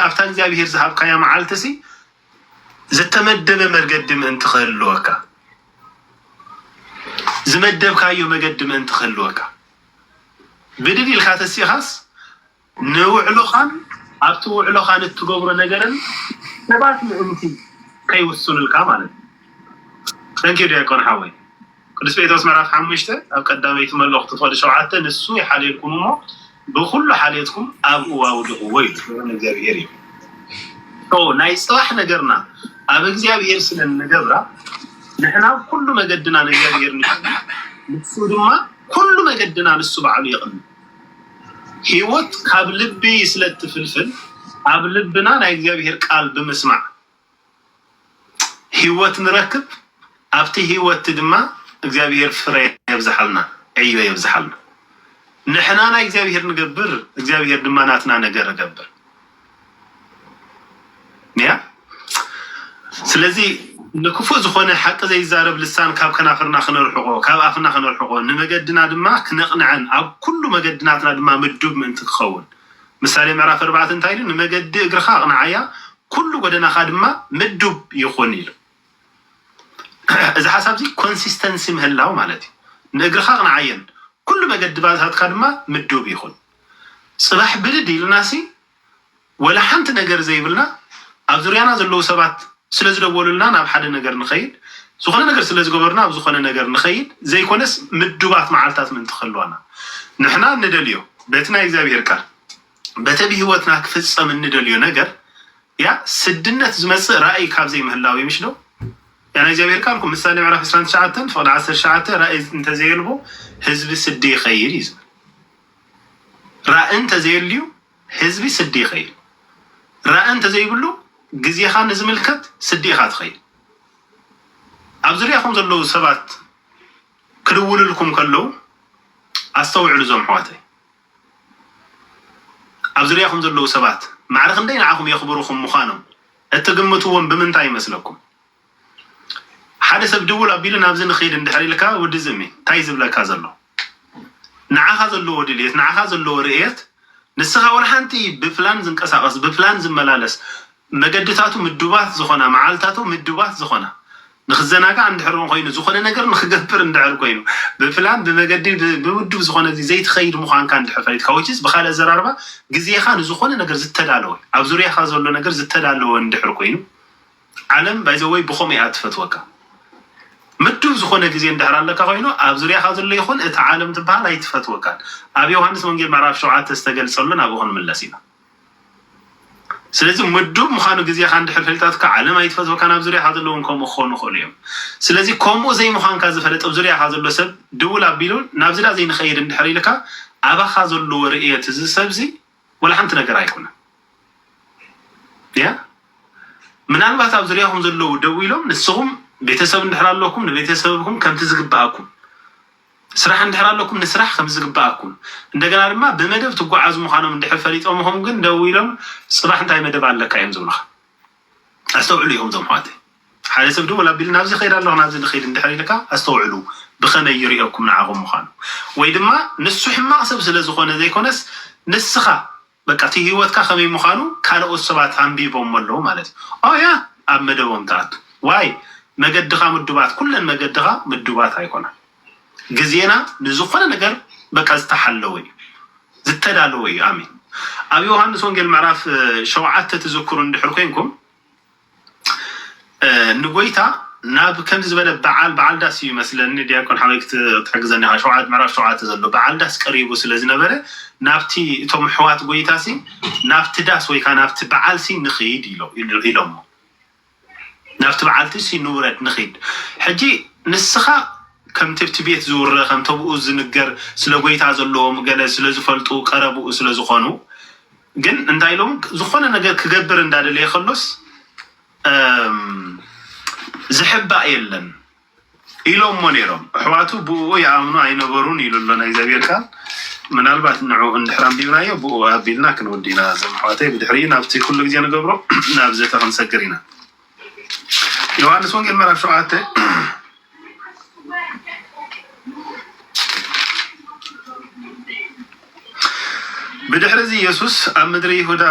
ኣብታ እግዚኣብሄር ዝሃብካያ መዓልቲሲ ዝተመደበ መገዲ ምእንቲ ክህልወካ ዝመደብካዮ መገዲ ምእንቲ ክህልወካ ብድድ ኢልካ ተሲእኻስ ንውዕሎኻን ኣብቲ ውዕሎኻ ንእትገብሮ ነገርን ሰባት ምእንቲ ከይውስኑልካ ማለት እዩ። Thank you ዲያቆን ሓወይ ቅዱስ ጴጥሮስ ምዕራፍ ሓሙሽተ ኣብ ቀዳመይቲ መልእኽቱ ፍቕዲ ሸውዓተ ንሱ ይሓልየልኩም እሞ ብኹሉ ሓልየትኩም ኣብኡ ኣውድቕዎ ኢሉ ክብሪ ንእግዚኣብሄር ይኹን። ኦ ናይ ጽባሕ ነገርና ኣብ እግዚኣብሄር ስለ እንገብራ ንሕና ኣብ ኩሉ መገድና ንእግዚኣብሄር ንቅድም ንሱ ድማ ኩሉ መገድና ንሱ ባዕሉ የቕንዕ። ህይወት ካብ ልቢ ስለ እትፍልፍል ኣብ ልብና ናይ እግዚኣብሄር ቃል ብምስማዕ ህይወት ንረክብ ኣብቲ ህይወት ድማ እግዚኣብሄር ፍረ የብዝሓልና ዕዮ የብዝሓልና ንሕና ናይ እግዚኣብሄር ንገብር እግዚኣብሄር ድማ ናትና ነገር እገብር ያ ስለዚ ንክፉእ ዝኾነ ሓቂ ዘይዛረብ ልሳን ካብ ከናፍርና ክነርሕቆ ካብ ኣፍና ክነርሕቆ ንመገድና ድማ ክነቕንዐን ኣብ ኩሉ መገድናትና ድማ ምዱብ ምእንቲ ክኸውን ምሳሌ ምዕራፍ ኣርባዕተ እንታይ ኢሉ ንመገዲ እግርኻ ኣቕንዓያ ኩሉ ጎደናኻ ድማ ምዱብ ይኹን ኢሉ እዚ ሓሳብ እዚ ኮንሲስተንሲ ምህላው ማለት እዩ ንእግርኻ ኣቕንዓየን ኩሉ መገድባታትካ ድማ ምዱብ ይኹን ጽባሕ ብድድ ኢልናሲ ወላ ሓንቲ ነገር ዘይብልና ኣብ ዙርያና ዘለዉ ሰባት ስለ ዝደወሉልና ናብ ሓደ ነገር ንኸይድ ዝኾነ ነገር ስለ ዝገበሩና ኣብ ዝኾነ ነገር ንኸይድ ዘይኮነስ ምዱባት መዓልታት ምእንቲ ክህልዋና ንሕና እንደልዮ በቲ ናይ እግዚኣብሔር ቃል በቲ ኣብ ሕይወትና ክፍጸም እንደልዮ ነገር ያ ስድነት ዝመጽእ ራእይ ካብ ዘይምህላው እዩ ምሽዶ ያ ናይ እግዚኣብሔር ቃል እኮ ምሳሌ ምዕራፍ 29 ፍቕዲ 19 ራእይ እንተዘየልቦ ህዝቢ ስዲ ይኸይድ እዩ ዝብል ራኢ እንተዘየልዩ ህዝቢ ስዲ ይኸይድ። ራኢ እንተዘይብሉ ግዜኻ ንዝምልከት ስዲ ኢኻ ትኸይድ። ኣብ ዙርያኹም ዘለዉ ሰባት ክድውልልኩም ከለዉ ኣስተውዕሉ እዞም ኣሕዋተይ። ኣብ ዙርያኹም ዘለዉ ሰባት ማዕረ ክንደይ ንዓኹም የኽብሩኹም ምዃኖም እትግምትዎም ብምንታይ ይመስለኩም? ሓደ ሰብ ድውል ኣቢሉ ናብዚ ንኺድ እንድሕር ኢልካ ወዲ ዝእሚ እንታይ እዩ ዝብለካ ዘሎ ንዓኻ ዘለዎ ድልየት ንዓኻ ዘለዎ ርእየት ንስኻ ወላ ሓንቲ ብፕላን ዝንቀሳቐስ ብፕላን ዝመላለስ መገድታቱ ምዱባት ዝኾና መዓልታቱ ምዱባት ዝኾና ንክዘናጋዕ እንድሕር እውን ኮይኑ ዝኾነ ነገር ንክገብር እንድሕር ኮይኑ ብፕላን ብመገዲ ብምዱብ ዝኾነ እዚ ዘይትኸይድ ምዃንካ እንድሕር ፈሊጥካ ወችስ ብካልእ ኣዘራርባ ግዜኻ ንዝኾነ ነገር ዝተዳለወ ኣብ ዙርያኻ ዘሎ ነገር ዝተዳለወ እንድሕር ኮይኑ ዓለም ባይ ዘ ወይ ብከምኡ ኢያ ትፈትወካ ምዱብ ዝኮነ ግዜ እንድሕር ኣለካ ኮይኑ ኣብ ዙርያካ ዘሎ ይኩን እታ ዓለም ትብሃል ኣይትፈትወካን ኣብ ዮውሃንስ ወንጌል ምዕራፍ ሸውዓተ ዝተገልጸሉ ናብኡ ክንምለስ ኢና ስለዚ ምዱብ ምካኑ ግዜካ እንድሕር ፈልጣትካ ዓለም ኣይትፈትወካን ኣብ ዙርያካ ዘሎ ውን ከምኡ ክኮኑ ይክእሉ ኢዮም ስለዚ ከምኡ ዘይምኳንካ ዝፈለጥ ኣብ ዙርያካ ዘሎ ሰብ ድውል ኣቢሉ ናብዚ ድኣ ዘይንከይድ እንድሕር ኢልካ ኣባካ ዘለዎ ርእየት እዚ ሰብዚ ዋላ ሓንቲ ነገር ኣይኮነን ያ ምናልባት ኣብ ዝርያኹም ዘለዉ ደው ኢሎም ንስኹም ቤተሰብ እንድሕር ኣለኩም ንቤተሰብኩም ከምቲ ዝግብኣኩም ስራሕ እንድሕር ኣለኩም ንስራሕ ከም ዝግብኣኩም እንደገና ድማ ብመደብ ትጓዓዙ ምዃኖም እንድሕር ፈሊጦምኹም ግን ደው ኢሎም ፅባሕ እንታይ መደብ ኣለካ እዮም ዝብሉኻ ኣስተውዕሉ ኢኹም እዞም ኣሕዋተይ ሓደ ሰብ ደወል ኣቢሉ ናብዚ ይኸይድ ኣለኹ ናብዚ ልኸይድ እንድሕር ኢልካ ኣስተውዕሉ ብኸመይ ይሪኦኩም ንዓኹም ምዃኑ ወይ ድማ ንሱ ሕማቕ ሰብ ስለ ዝኾነ ዘይኮነስ ንስኻ በቃ እቲ ሂወትካ ከመይ ምዃኑ ካልኦት ሰባት ኣንቢቦሞ ኣለዉ ማለት እዩ ኦ ያ ኣብ መደቦም ትኣቱ ዋይ መገድኻ ምዱባት ኩለን መገድኻ ምዱባት ኣይኮናን ግዜና ንዝኾነ ነገር በቃ ዝተሓለወ እዩ ዝተዳለወ እዩ ኣሜን ኣብ ዮውሃንስ ወንጌል ምዕራፍ ሸውዓተ ትዝክሩ እንድሕር ኮንኩም ንጎይታ ናብ ከምዚ ዝበለ በዓል በዓል ዳስ እዩ መስለኒ ዲያቆን ሓወይ ክትሕግዘኒ ኢኻ ሸውዓተ ምዕራፍ ሸውዓተ ዘሎ በዓል ዳስ ቀሪቡ ስለ ዝነበረ ናብቲ እቶም ኣሕዋት ጎይታ ሲ ናብቲ ዳስ ወይ ከዓ ናብቲ በዓል ሲ ንኽይድ ኢሎሞ ናብቲ በዓልቲ እስኪ ንውረድ ንኺድ ሕጂ ንስኻ ከም ትብቲ ቤት ዝውረ ከም ተብኡ ዝንገር ስለ ጎይታ ዘለዎም ገለ ስለ ዝፈልጡ ቀረብኡ ስለ ዝኾኑ ግን እንታይ ኢሎም ዝኾነ ነገር ክገብር እንዳደለየ ከሎስ ዝሕባእ የለን ኢሎሞ ነይሮም ኣሕዋቱ ብእኡ ይኣምኑ ኣይነበሩን ኢሉ ኣሎ ናይ እግዚኣብሔር ቃል ምናልባት ንዑ እንድሕር ኣንቢብናዮ ብእኡ ኣቢልና ክንወዲ ኢና እዞም ኣሕዋተይ ብድሕሪኡ ናብቲ ኩሉ ግዜ ንገብሮ ናብ ዘተ ክንሰግር ኢና ዮሃንስ ወንጌል ምዕራፍ ሸውዓተ ብድሕሪ እዚ የሱስ ኣብ ምድሪ ይሁዳ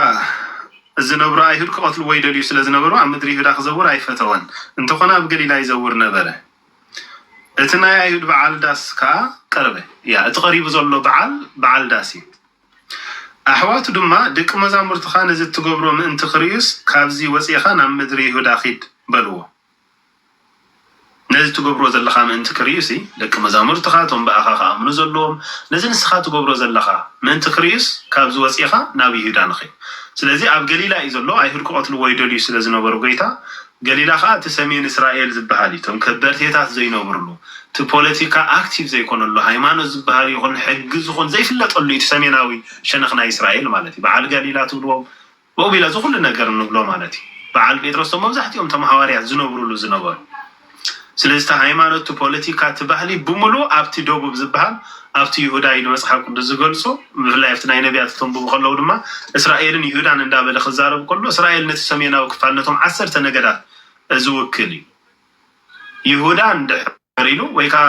ዚነብሩ ኣይሁድ ኪቐትልዎ ይደልዩ ስለ ዝነበሩ፣ ኣብ ምድሪ ይሁዳ ኺዘውር ኣይፈተወን፣ እንተዀነ ኣብ ገሊላ ይዘውር ነበረ። እቲ ናይ ኣይሁድ በዓል ዳስ ከኣ ቀረበ። ያእ፣ እቲ ቐሪቡ ዘሎ በዓል፣ በዓል ዳስ እዩ። ኣሕዋቱ ድማ፣ ደቂ መዛሙርትኻ ነዚ እትገብሮ ምእንቲ ኺርእዩስ፣ ካብዚ ወጺእኻ ናብ ምድሪ ይሁዳ ኺድ፣ በልዎ። ነዚ እትገብሮ ዘለኻ ምእንቲ ክርእዩሲ፣ ደቂ መዛሙርትኻ፣ እቶም ብኣኻ ኺኣምኑ ዘለዎም፣ ነዚ ንስኻ እትገብሮ ዘለኻ ምእንቲ ኺርእዩስ፣ ካብዚ ወጺእኻ ናብ ይሁዳ ንኺድ። ስለዚ ኣብ ገሊላ እዩ ዘሎ፣ ኣይሁድ ኪቐትልዎ ይደልዩ ስለ ዝነበሩ ጐይታ፣ ገሊላ ኸኣ እቲ ሰሜን እስራኤል ዚብሃል እዩ፣ እቶም ከበርቴታት ዘይነብሩሉ፣ እቲ ፖለቲካ ኣክቲቭ ዘይኰነሉ፣ ሃይማኖት ዚብሃል ይኹን ሕጊ ዚኹን ዘይፍለጠሉ እዩ፣ እቲ ሰሜናዊ ሸነኽ ናይ እስራኤል ማለት እዩ፣ ብዓል ጋሊላ ትብልዎም። ሞቢላ እዚ ኩሉ ነገር እንብሎ ማለት እዩ በዓል ጴጥሮስ እቶም መብዛሕቲኦም እቶም ሃዋርያት ዝነብሩሉ ዝነበሩ ስለዚ እቲ ሃይማኖት እቲ ፖለቲካ እቲ ባህሊ ብምሉእ ኣብቲ ደቡብ ዝበሃል ኣብቲ ይሁዳ ኢሉ መጽሓፍ ቅዱስ ዝገልጾ ብፍላይ ኣብቲ ናይ ነቢያት ክተንብቡ ከለዉ ድማ እስራኤልን ይሁዳን እንዳበለ ክዛረብ ከሎ እስራኤል ነቲ ሰሜናዊ ክፋል ነቶም ዓሰርተ ነገዳት ዝውክል እዩ ይሁዳ እንድሕር ኢሉ ወይ ከኣ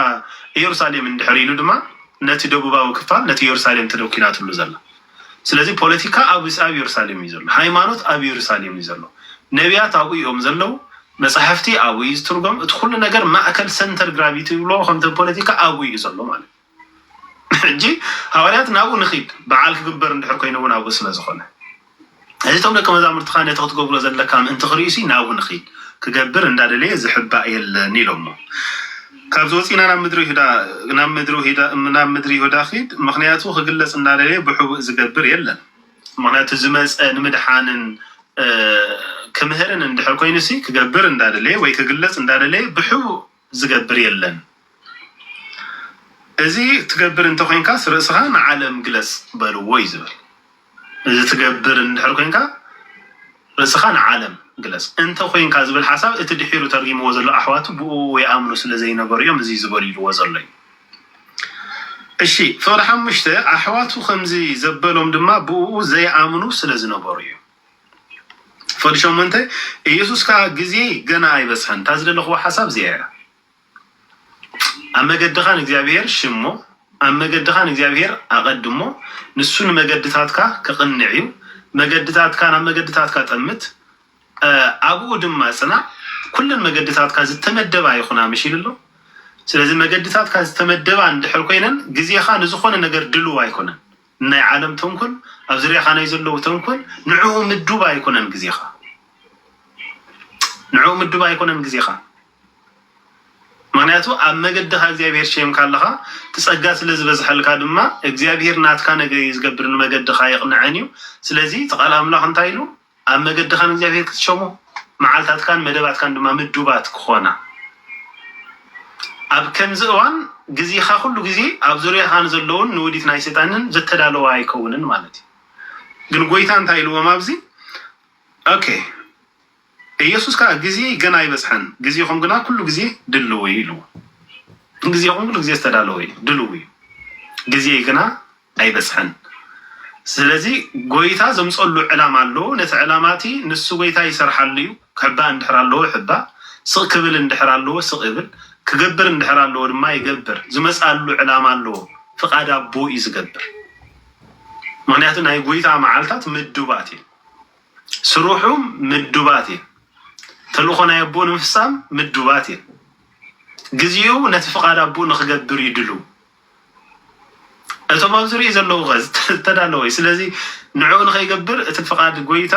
ኢየሩሳሌም እንድሕር ኢሉ ድማ ነቲ ደቡባዊ ክፋል ነቲ ኢየሩሳሌም ተደኲናትሉ ዘላ። ስለዚ ፖለቲካ ኣብ ኣብ ኢየሩሳሌም እዩ ዘሎ። ሃይማኖት ኣብ ኢየሩሳሌም እዩ ዘሎ። ነብያት ኣብኡ እዮም ዘለዉ። መጻሕፍቲ ኣብኡ እዩ ዝትርጎም። እቲ ኩሉ ነገር ማእከል ሰንተር ግራቪቲ ዝብልዎ ከምቲ ፖለቲካ ኣብኡ እዩ ዘሎ ማለት እዩ። ሕጂ ሃዋርያት ናብኡ ንኺድ በዓል ክግበር እንድሕር ኮይኑ እውን ኣብኡ ስለ ዝኾነ እዚ እቶም ደቂ መዛሙርትኻ ነቲ ክትገብሮ ዘለካ ምእንቲ ክርእዩሲ ናብኡ ንኺድ ክገብር እንዳደለየ ዝሕባእ የለን ኢሎሞ ካብዚ ወፂእና ናብ ምድሪ ይሁዳ ናብ ምድሪ ይሁዳ ናብ ምድሪ ይሁዳ ኺድ ምክንያቱ ክግለጽ እንዳደለየ ብሕቡእ ዝገብር የለን ምክንያቱ ዝመፀ ንምድሓንን ክምህርን እንድሕር ኮይኑሲ ክገብር እንዳደለየ ወይ ክግለጽ እንዳደለየ ብሕቡእ ዝገብር የለን እዚ ትገብር እንተኮይንካስ ርእስካ ንዓለም ግለጽ በልዎ እዩ ዝብል እዚ ትገብር እንድሕር ኮንካ ርእስካ ንዓለም ግለጽ እንተኮንካ ዝብል ሓሳብ እቲ ድሒሩ ተርጊምዎ ዘሎ ኣሕዋቱ ብኡ ይኣምኑ ስለዘይነበሩ እዮም እዚ ዝበሉ ኢልዎ ዘሎ እዩ እሺ ፍቅዲ ሓሙሽተ ኣሕዋቱ ከምዚ ዘበሎም ድማ ብኡ ዘይኣምኑ ስለዝነበሩ እዩ ክፈል ሸሞንተ ኢየሱስ ከኣ ግዜይ ገና ኣይበጽሐን እታ ዝደለኽዋ ሓሳብ እዚኣ እያ ኣብ መገድኻ ንእግዚኣብሔር ሽሞ ኣብ መገድኻ ንእግዚኣብሔር ኣቐድሞ ንሱ ንመገድታትካ ከቕንዕ እዩ መገድታትካ ናብ መገድታትካ ጠምት ኣብኡ ድማ ጽናዕ ኩለን መገድታትካ ዝተመደባ ይኹና ምሽ ኢሉ ኣሎ ስለዚ መገድታትካ ዝተመደባ እንድሕር ኮይነን ግዜኻ ንዝኾነ ነገር ድልው ኣይኮነን ንናይ ዓለም ተንኮል ኣብ ዝርያኻ ናይ ዘለዉ ተንኮል ንዕኡ ምዱብ ኣይኮነን ግዜኻ ንዕኡ ምዱብ ኣይኮነን ግዜኻ ምክንያቱ ኣብ መገድኻ እግዚኣብሄር ሸየምካ ኣለኻ ትጸጋ ስለ ዝበዝሐልካ ድማ እግዚኣብሄር ናትካ ነገር እዩ ዝገብር ንመገድኻ የቕንዐን እዩ ስለዚ እቲ ቃል ኣምላኽ እንታይ ኢሉ ኣብ መገድኻ ንእግዚኣብሄር ክትሸሞ፣ መዓልታትካን መደባትካን ድማ ምዱባት ክኾና። ኣብ ከምዚ እዋን ግዜኻ ኩሉ ግዜ ኣብ ዙርያኻ ንዘለዉን ንውዲት ናይ ሰይጣንን ዘተዳለወ ኣይከውንን ማለት እዩ። ግን ጎይታ እንታይ ኢልዎም ኣብዚ ኦኬ ኢየሱስ ከኣ ግዜይ ገና ኣይበጽሐን ግዜኹም ግና ኩሉ ግዜ ድልው እዩ ኢልዎ። ግዜኹም ኩሉ ግዜ ዝተዳለወ እዩ ድልው እዩ ግዜይ ግና ኣይበጽሐን ስለዚ ጎይታ ዘምጸሉ ዕላማ ኣለዎ ነቲ ዕላማ እቲ ንሱ ጎይታ ይሰርሓሉ እዩ ክሕባእ እንድሕር ኣለዎ ይሕባእ ስቅ ክብል እንድሕር ኣለዎ ስቅ ይብል ክገብር እንድሕር ኣለዎ ድማ ይገብር ዝመጽኣሉ ዕላማ ኣለዎ ፍቃድ ኣቦ እዩ ዝገብር ምክንያቱ ናይ ጎይታ መዓልታት ምዱባት እዩ ስርሑ ምዱባት እዩ ተልእኮ ናይ ኣቦ ንምፍጻም ምዱባት እዩ ግዚኡ ነቲ ፍቃድ ኣቦ ንክገብር ይድሉ እቶም ኣብ ዙርይኡ ዘለዉ ኸእ ዝተዳለወ እዩ። ስለዚ ንዕኡ ንኸይገብር እቲ ፍቓድ ጐይታ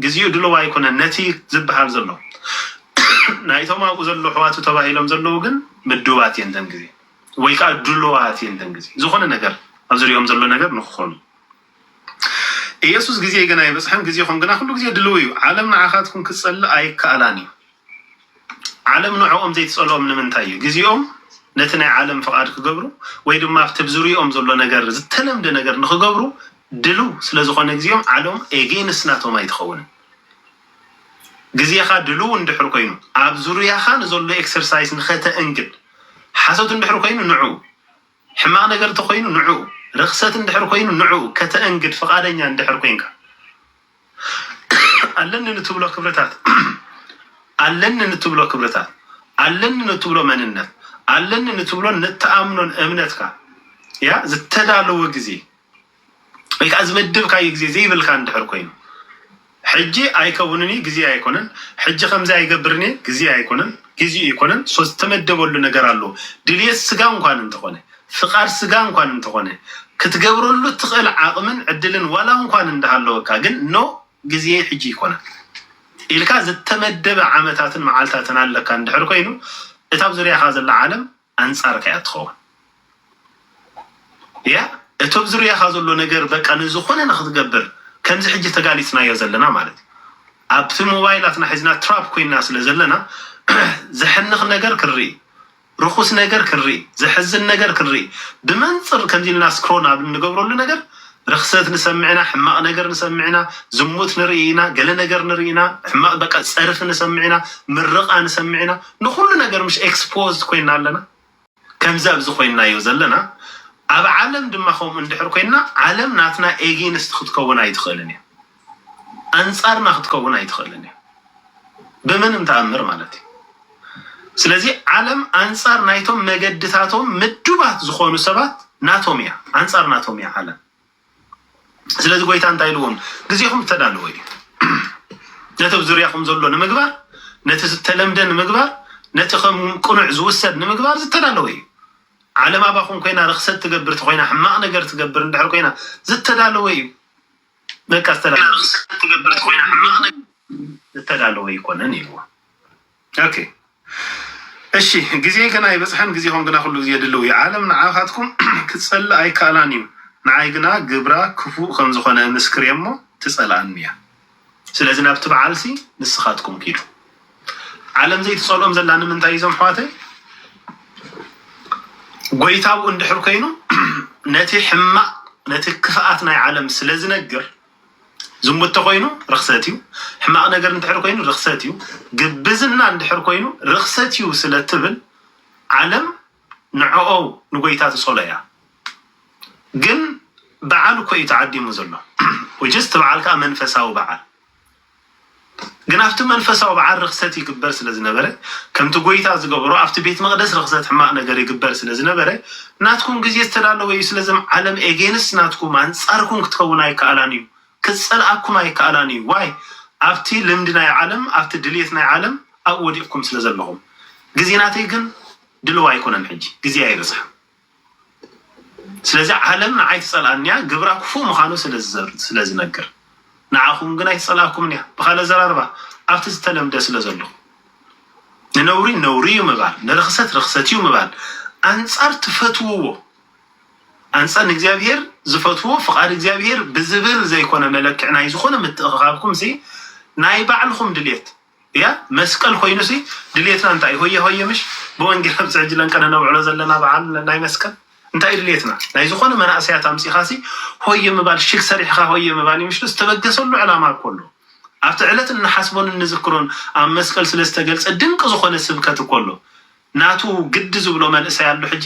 ግዜኡ ድሉው ኣይኰነን። ነቲ ዚብሃል ዘሎ ናይቶም ኣብኡ ዘለዉ ኣሕዋቱ ተባሂሎም ዘለዉ ግን ምዱባት እየን እተን ግዜ፣ ወይ ከኣ ድሉዋት እየን እተን ግዜ፣ ዝዀነ ነገር ኣብ ዙርያኦም ዘሎ ነገር ንኽዀኑ። ኢየሱስ ግዜይ ገና ኣይበጽሐን ግዜኹም ግና ኩሉ ግዜ ድልው እዩ። ዓለም ንዓኻትኩም ክትጸልእ ኣይከኣላን እዩ። ዓለም ንዕኦም ዘይትጸልኦም ንምንታይ እዩ? ግዜኦም ነቲ ናይ ዓለም ፍቓድ ክገብሩ ወይ ድማ ኣብቲ ኣብ ዙርያኦም ዘሎ ነገር ዝተለምደ ነገር ንክገብሩ ድልው ስለ ዝኾነ ግዜኦም ዓለም ኤጌንስ ናቶም ኣይትኸውንን። ግዜኻ ድልው እንድሕር ኮይኑ ኣብ ዙርያኻ ንዘሎ ኤክሰርሳይስ ንኸተእንግድ ሓሶት እንድሕር ኮይኑ ንዑ ሕማቕ ነገር እንተ ኾይኑ ንዕኡ፣ ርኽሰት እንድሕር ኮይኑ ንዕኡ ከተእንግድ ፍቓደኛ እንድሕር ኮንካ፣ ኣለኒ ንትብሎ ክብርታት፣ ኣለኒ ንትብሎ ክብርታት፣ ኣለኒ ንትብሎ መንነት፣ ኣለኒ ንትብሎን ንትኣምኖን እምነትካ፣ ያ ዝተዳለወ ግዜ፣ ወይ ከዓ ዝመደብካዮ ግዜ ዘይብልካ እንድሕር ኮይኑ ሕጂ ኣይከውንን እዩ ግዜ ኣይኮነን ሕጂ ከምዚ ኣይገብርን እየ ግዜ ኣይኮነን ግዚኡ ኣይኮነን ሶ ዝተመደበሉ ነገር ኣሎ ድልየት ስጋ እንኳን እንተኾነ ፍቃድ ስጋ እንኳን እንተኾነ ክትገብረሉ እትኽእል ዓቅምን ዕድልን ዋላ እንኳን እንዳሃለወካ ግን ኖ ግዜ ሕጂ ኣይኮነን ኢልካ ዝተመደበ ዓመታትን መዓልታትን ኣለካ እንድሕር ኮይኑ እታ ኣብ ዙርያኻ ዘላ ዓለም ኣንጻርካ እያ ትኸውን እያ እቲ ኣብ ዝርያኻ ዘሎ ነገር በቃ ንዝኾነ ንክትገብር ከምዚ ሕጂ ተጋሊጽናዮ ዘለና ማለት እዩ ኣብቲ ሞባይላትና ሒዝና ትራፕ ኮይና ስለ ዘለና ዘሕንኽ ነገር ክንርኢ ርኹስ ነገር ክንርኢ ዘሕዝን ነገር ክንርኢ ብመንጽር ከምዚ ኢልና ስክሮን ኣብ እንገብረሉ ነገር ርኽሰት ንሰምዕ ኢና ሕማቅ ነገር ንሰምዕ ኢና ዝሙት ንርኢ ኢና ገለ ነገር ንርኢ ኢና ሕማቅ በቃ ጸርፊ ንሰምዕ ኢና ምርቃ ንሰምዕ ኢና ንኹሉ ነገር ምሽ ኤክስፖዝድ ኮይና ኣለና ከምዚ ኣብዚ ኮይናዮ ዘለና ኣብ ዓለም ድማ ከምኡ እንድሕር ኮይና ዓለም ናትና ኤጊንስት ክትከውን ኣይትኽእልን እያ። ኣንጻርና ክትከውን ኣይትኽእልን እያ ብምንም ተኣምር ማለት እዩ። ስለዚ ዓለም ኣንጻር ናይቶም መገድታቶም ምዱባት ዝኾኑ ሰባት ናቶም እያ፣ ኣንጻር ናቶም እያ ዓለም። ስለዚ ጎይታ እንታይ ኢልዎም ግዜኹም ዝተዳለወ እዩ ነቲ ኣብ ዙርያኹም ዘሎ ንምግባር ነቲ ዝተለምደ ንምግባር ነቲ ከም ቅኑዕ ዝውሰድ ንምግባር ዝተዳለወ እዩ ዓለም ኣባኹም ኮይና ርክሰት ትገብር ኮይና ሕማቕ ነገር ትገብር እንድሕር ኮይና ዝተዳለወ እዩ በቃ ዝተዳለወ ኮይና ሕማቅ ነገር ዝተዳለወ ይኮነን ይዎ ኦኬ እሺ ግዜ ገና ይበፅሐን ግዜኹም ግና ኩሉ ግዜ ድልው እዩ ዓለም ንዓኻትኩም ክትፀልእ ኣይከኣላን እዩ ንዓይ ግና ግብራ ክፉእ ከምዝኾነ ምስክር እሞ ትፀልኣኒ እያ ስለዚ ናብቲ በዓልሲ ንስኻትኩም ኪዱ ዓለም ዘይትጸልኦም ዘላ ንምንታይ እዞም ኣሕዋተይ ጎይታኡ እንድሕር ኮይኑ ነቲ ሕማቅ ነቲ ክፍኣት ናይ ዓለም ስለ ዝነግር ዝሙት ተኮይኑ ርክሰት እዩ ሕማቅ ነገር እንድሕር ኮይኑ ርክሰት እዩ ግብዝና እንድሕር ኮይኑ ርክሰት እዩ ስለ ትብል ዓለም ንዕኦ ንጎይታ ትጸሎ እያ ግን በዓል እኮ እዩ ተዓዲሙ ዘሎ ውጅስ እቲ በዓል ከዓ መንፈሳዊ በዓል ግን ኣብቲ መንፈሳዊ በዓል ርኽሰት ይግበር ስለ ዝነበረ፣ ከምቲ ጐይታ ዝገበሮ ኣብቲ ቤት መቕደስ ርኽሰት ሕማቕ ነገር ይግበር ስለ ዝነበረ፣ ናትኩም ግዜ ዝተዳለወ እዩ፣ ስለዘም ዓለም ኤጌንስት ናትኩም፣ ኣንጻርኩም ክትከውን ኣይከኣላን እዩ፣ ክትጸልኣኩም ኣይከኣላን እዩ፣ ዋይ ኣብቲ ልምዲ ናይ ዓለም ኣብቲ ድልየት ናይ ዓለም ኣብኡ ወዲቕኩም ስለ ዘለኹም፣ ግዜ ናተይ ግን ድልው ኣይኮነን ሕጂ ግዜ ኣይበጽሐን። ስለዚ ዓለም ንዓይ ትጸልኣኒ እያ፣ ግብራ ክፉእ ምዃኑ ስለ ዝነግር። ንዓኹም ግን ኣይትጸልኣኩምን እያ፣ ብኻልእ ኣዘራርባ ኣብቲ ዝተለምደ ስለ ዘለኹ። ንነውሪ ነውሪ እዩ ምባል፣ ንርኽሰት ርኽሰት እዩ ምባል፣ ኣንጻር ትፈትውዎ ኣንጻር ንእግዚኣብሄር ዝፈትዎ ፍቓድ እግዚኣብሄር ብዝብል ዘይኮነ መለክዒ ናይ ዝኾነ ምትእኽኻብኩምሲ ናይ ባዕልኹም ድሌት እያ መስቀል ኮይኑ ሲ ድልየትና እንታይ እዩ ሆየ ሆየ ምሽ ብወንጌል ኣብዚ ሕጂ ለን ከነነብዕሎ ዘለና በዓል ናይ መስቀል እንታይ እዩ ድልየትና ናይ ዝኾነ መናእሰያት ኣምጺኻ ሲ ሆየ ምባል ሽግ ሰሪሕኻ ሆየ ምባል እዩ ምሽ ዶ ዝተበገሰሉ ዕላማ እኮ ኣሎ ኣብቲ ዕለት እንሓስቦን እንዝክሮን ኣብ መስቀል ስለ ዝተገልጸ ድንቂ ዝኾነ ስብከት እኮ ኣሎ ናቱ ግዲ ዝብሎ መንእሰይ ኣሎ ሕጂ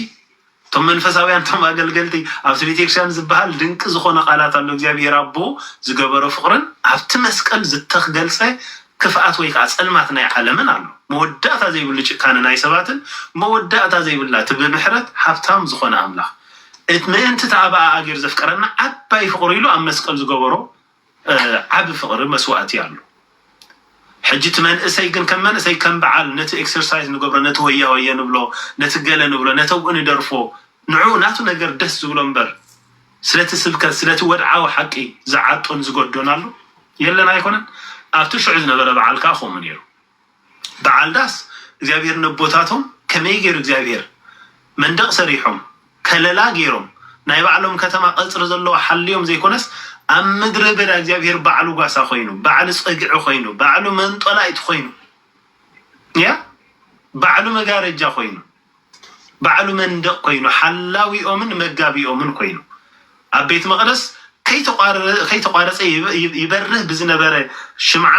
እቶም መንፈሳውያን እቶም ኣገልገልቲ ኣብቲ ቤተክርስቲያን ዝበሃል ድንቂ ዝኾነ ቃላት ኣሎ እግዚኣብሔር ኣቦ ዝገበሮ ፍቅርን ኣብቲ መስቀል ዝተክገልጸ ክፍኣት ወይ ከኣ ጸልማት ናይ ዓለምን ኣሎ መወዳእታ ዘይብሉ ጭካነ ናይ ሰባትን መወዳእታ ዘይብላ እቲ ብምሕረት ሃብታም ዝኾነ ኣምላኽ ምእንቲ ተኣባኣ ኣገር ዘፍቀረና ዓባይ ፍቅሩ ኢሉ ኣብ መስቀል ዝገበሮ ዓቢ ፍቅሪ መስዋእቲ ኣሉ ሕጂ እቲ መንእሰይ ግን ከም መንእሰይ ከም በዓል ነቲ ኤክሰርሳይዝ ንገብሮ ነቲ ሆያ ሆየ ንብሎ ነቲ ገለ ንብሎ ነተብኡ ንደርፎ ንዑ ናቱ ነገር ደስ ዝብሎ እምበር ስለቲ ስብከት ስለቲ ወድዓዊ ሓቂ ዝዓጦን ዝገዶን ኣሉ የለን ኣይኮነን ኣብቲ ሽዑ ዝነበረ በዓል ከኣ ከምኡ ነይሩ በዓል ዳስ እግዚኣብሄር ነቦታቶም ከመይ ገይሩ እግዚኣብሄር መንደቕ ሰሪሖም ከለላ ገይሮም ናይ ባዕሎም ከተማ ቀጽሪ ዘለዎ ሓልዮም ዘይኮነስ ኣብ ምድረ በዳ እግዚኣብሄር ባዕሉ ጓሳ ኮይኑ ባዕሉ ጸግዒ ኮይኑ ባዕሉ መንጦላይት ኮይኑ ያ ባዕሉ መጋረጃ ኮይኑ ባዕሉ መንደቕ ኮይኑ ሓላዊኦምን መጋቢኦምን ኮይኑ ኣብ ቤት መቕደስ ከይተቋረፀ ይበርህ ብዝነበረ ሽምዓ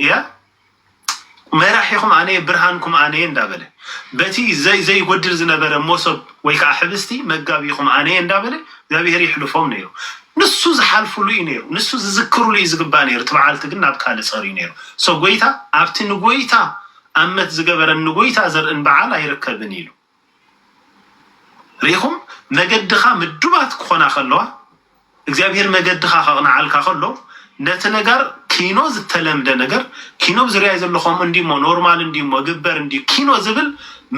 እያ መራሒኹም ኣነየ ብርሃንኩም ኣነየ እንዳበለ በቲ ዘይጎድል ዝነበረ ሞሶብ ወይ ከዓ ሕብስቲ መጋቢኹም ኣነየ እንዳበለ እግዚኣብሔር ይሕልፎም ነይሩ ንሱ ዝሓልፍሉ እዩ ነይሩ ንሱ ዝዝክርሉ እዩ ዝግባእ ነይሩ እቲ በዓልቲ ግን ናብ ካልእ ፀርዩ ነይሩ ሶ ጎይታ ኣብቲ ንጎይታ ኣመት ዝገበረን ንጎይታ ዘርእን በዓል ኣይርከብን ኢሉ ርኢኹም፣ መገድኻ ምዱባት ክኾና ከለዋ፣ እግዚኣብሄር መገድኻ ከቕንዓልካ ከሎ፣ ነቲ ነጋር ኪኖ ዝተለምደ ነገር፣ ኪኖ ኣብ ዙርያይ ዘሎ ከምኡ እንድዩሞ፣ ኖርማል እንድዩሞ፣ ግበር እንድዩ ኪኖ ዝብል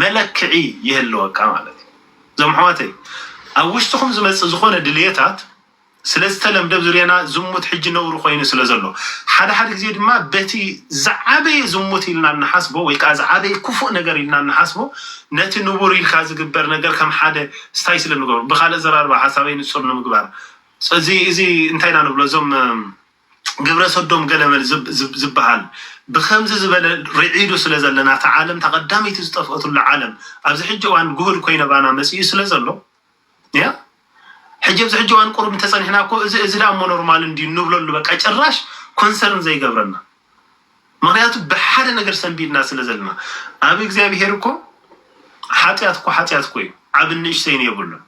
መለክዒ ይህልወካ ማለት እዩ። እዞም ኣሕዋተይ፣ ኣብ ውሽጥኹም ዝመጽእ ዝኾነ ድልየታት፣ ስለዝተለምደ ብዙርያና ዝሙት ሕጂ ነውሪ ኮይኑ ስለዘሎ ሓደ ሓደ ግዜ ድማ በቲ ዝዓበየ ዝሙት ኢልና እንሓስቦ ወይ ከኣ ዝዓበየ ክፉእ ነገር ኢልና እንሓስቦ ነቲ ንቡር ኢልካ ዝግበር ነገር ከም ሓደ ስታይ ስለ እንገብሮ ብካልእ ኣዘራርባ ሓሳበይ ንጹር ንምግባር እዚ እዚ እንታይ ኢና ንብሎ እዞም ግብረሰዶም ገለመል ዝብሃል ብከምዚ ዝበለ ርዒዱ ስለዘለና እታ ዓለም እታ ቀዳመይቲ ዝጠፍኦትሉ ዓለም ኣብዚ ሕጂ እዋን ጉሁድ ኮይነባና መጺኡ ስለዘሎ ያ ሕጂ ኣብዚ ሕጂ እዋን ቁሩብ እንተጸኒሕና እኮ እዚ እዚ ደኣ እሞ ኖርማል እንድዩ እንብለሉ በቃ ጭራሽ ኮንሰርን ዘይገብረና ምክንያቱ ብሓደ ነገር ሰንቢድና ስለ ዘለና ኣብ እግዚኣብሄር እኮ ሓጢኣት እኮ ሓጢኣት እኮ እዩ ዓብን ንእሽተይን የብሉን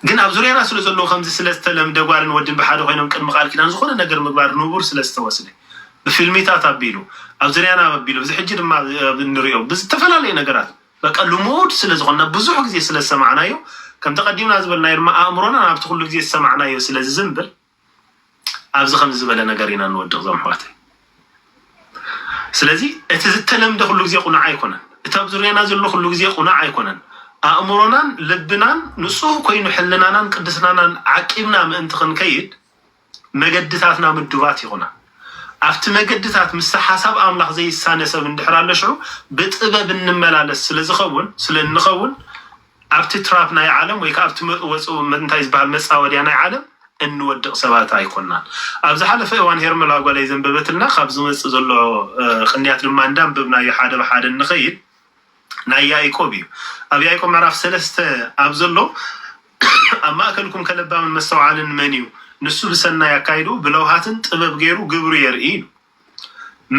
ግን ኣብ ዙርያና ስለ ዘለዉ ከምዚ ስለ ዝተለምደ ጓልን ወድን ብሓደ ኮይኖም ቅድሚ ቃል ኪዳን ዝኾነ ነገር ምግባር ንቡር ስለ ዝተወስደ ብፊልሚታት ኣቢሉ ኣብ ዙርያና ኣቢሉ እዚ ሕጂ ድማ እንሪኦ ብዝተፈላለዩ ነገራት በቃ ልሙድ ስለ ዝኾንና ብዙሕ ግዜ ስለ ዝሰማዕናዮ ከምቲ ቀዲምና ዝበልናዮ ድማ ኣእምሮና ናብቲ ኩሉ ግዜ ዝሰማዕናዮ ስለ ዝዝንብል ኣብዚ ከምዚ ዝበለ ነገር ኢና ንወድቕ ዞም ኣሕዋተይ ስለዚ እቲ ዝተለምደ ኩሉ ግዜ ቁኑዕ ኣይኮነን እቲ ኣብ ዙርያና ዘሎ ኩሉ ግዜ ቁኑዕ ኣይኮነን ኣእምሮናን ልብናን ንጹህ ኮይኑ ሕልናናን ቅድስናናን ዓቂብና ምእንቲ ክንከይድ መገድታትና ምዱባት ይኹና። ኣብቲ መገድታት ምስቲ ሓሳብ ኣምላኽ ዘይሳነ ሰብ እንድሕር ኣሎ ሽዑ ብጥበብ እንመላለስ ስለ ዝኸውን ስለ እንኸውን ኣብቲ ትራፕ ናይ ዓለም ወይ ከኣ ኣብቲ መጥወጽ እንታይ ዝበሃል መጻወድያ ናይ ዓለም እንወድቕ ሰባት ኣይኮናን። ኣብ ዝሓለፈ እዋን ሄርመላ ጓለይ ዘንበበትልና ካብ ዝመጽእ ዘሎ ቅንያት ድማ እንዳንበብናዮ ሓደ ብሓደ እንኸይድ ናይ ያእቆብ እዩ። ኣብ ያእቆብ ምዕራፍ ሰለስተ ኣብ ዘሎ ኣብ ማእከልኩም ከለባምን መስተውዓልን መን እዩ? ንሱ ብሰናይ ኣካይድኡ ብለውሃትን ጥበብ ገይሩ ግብሩ የርኢ ኢሉ።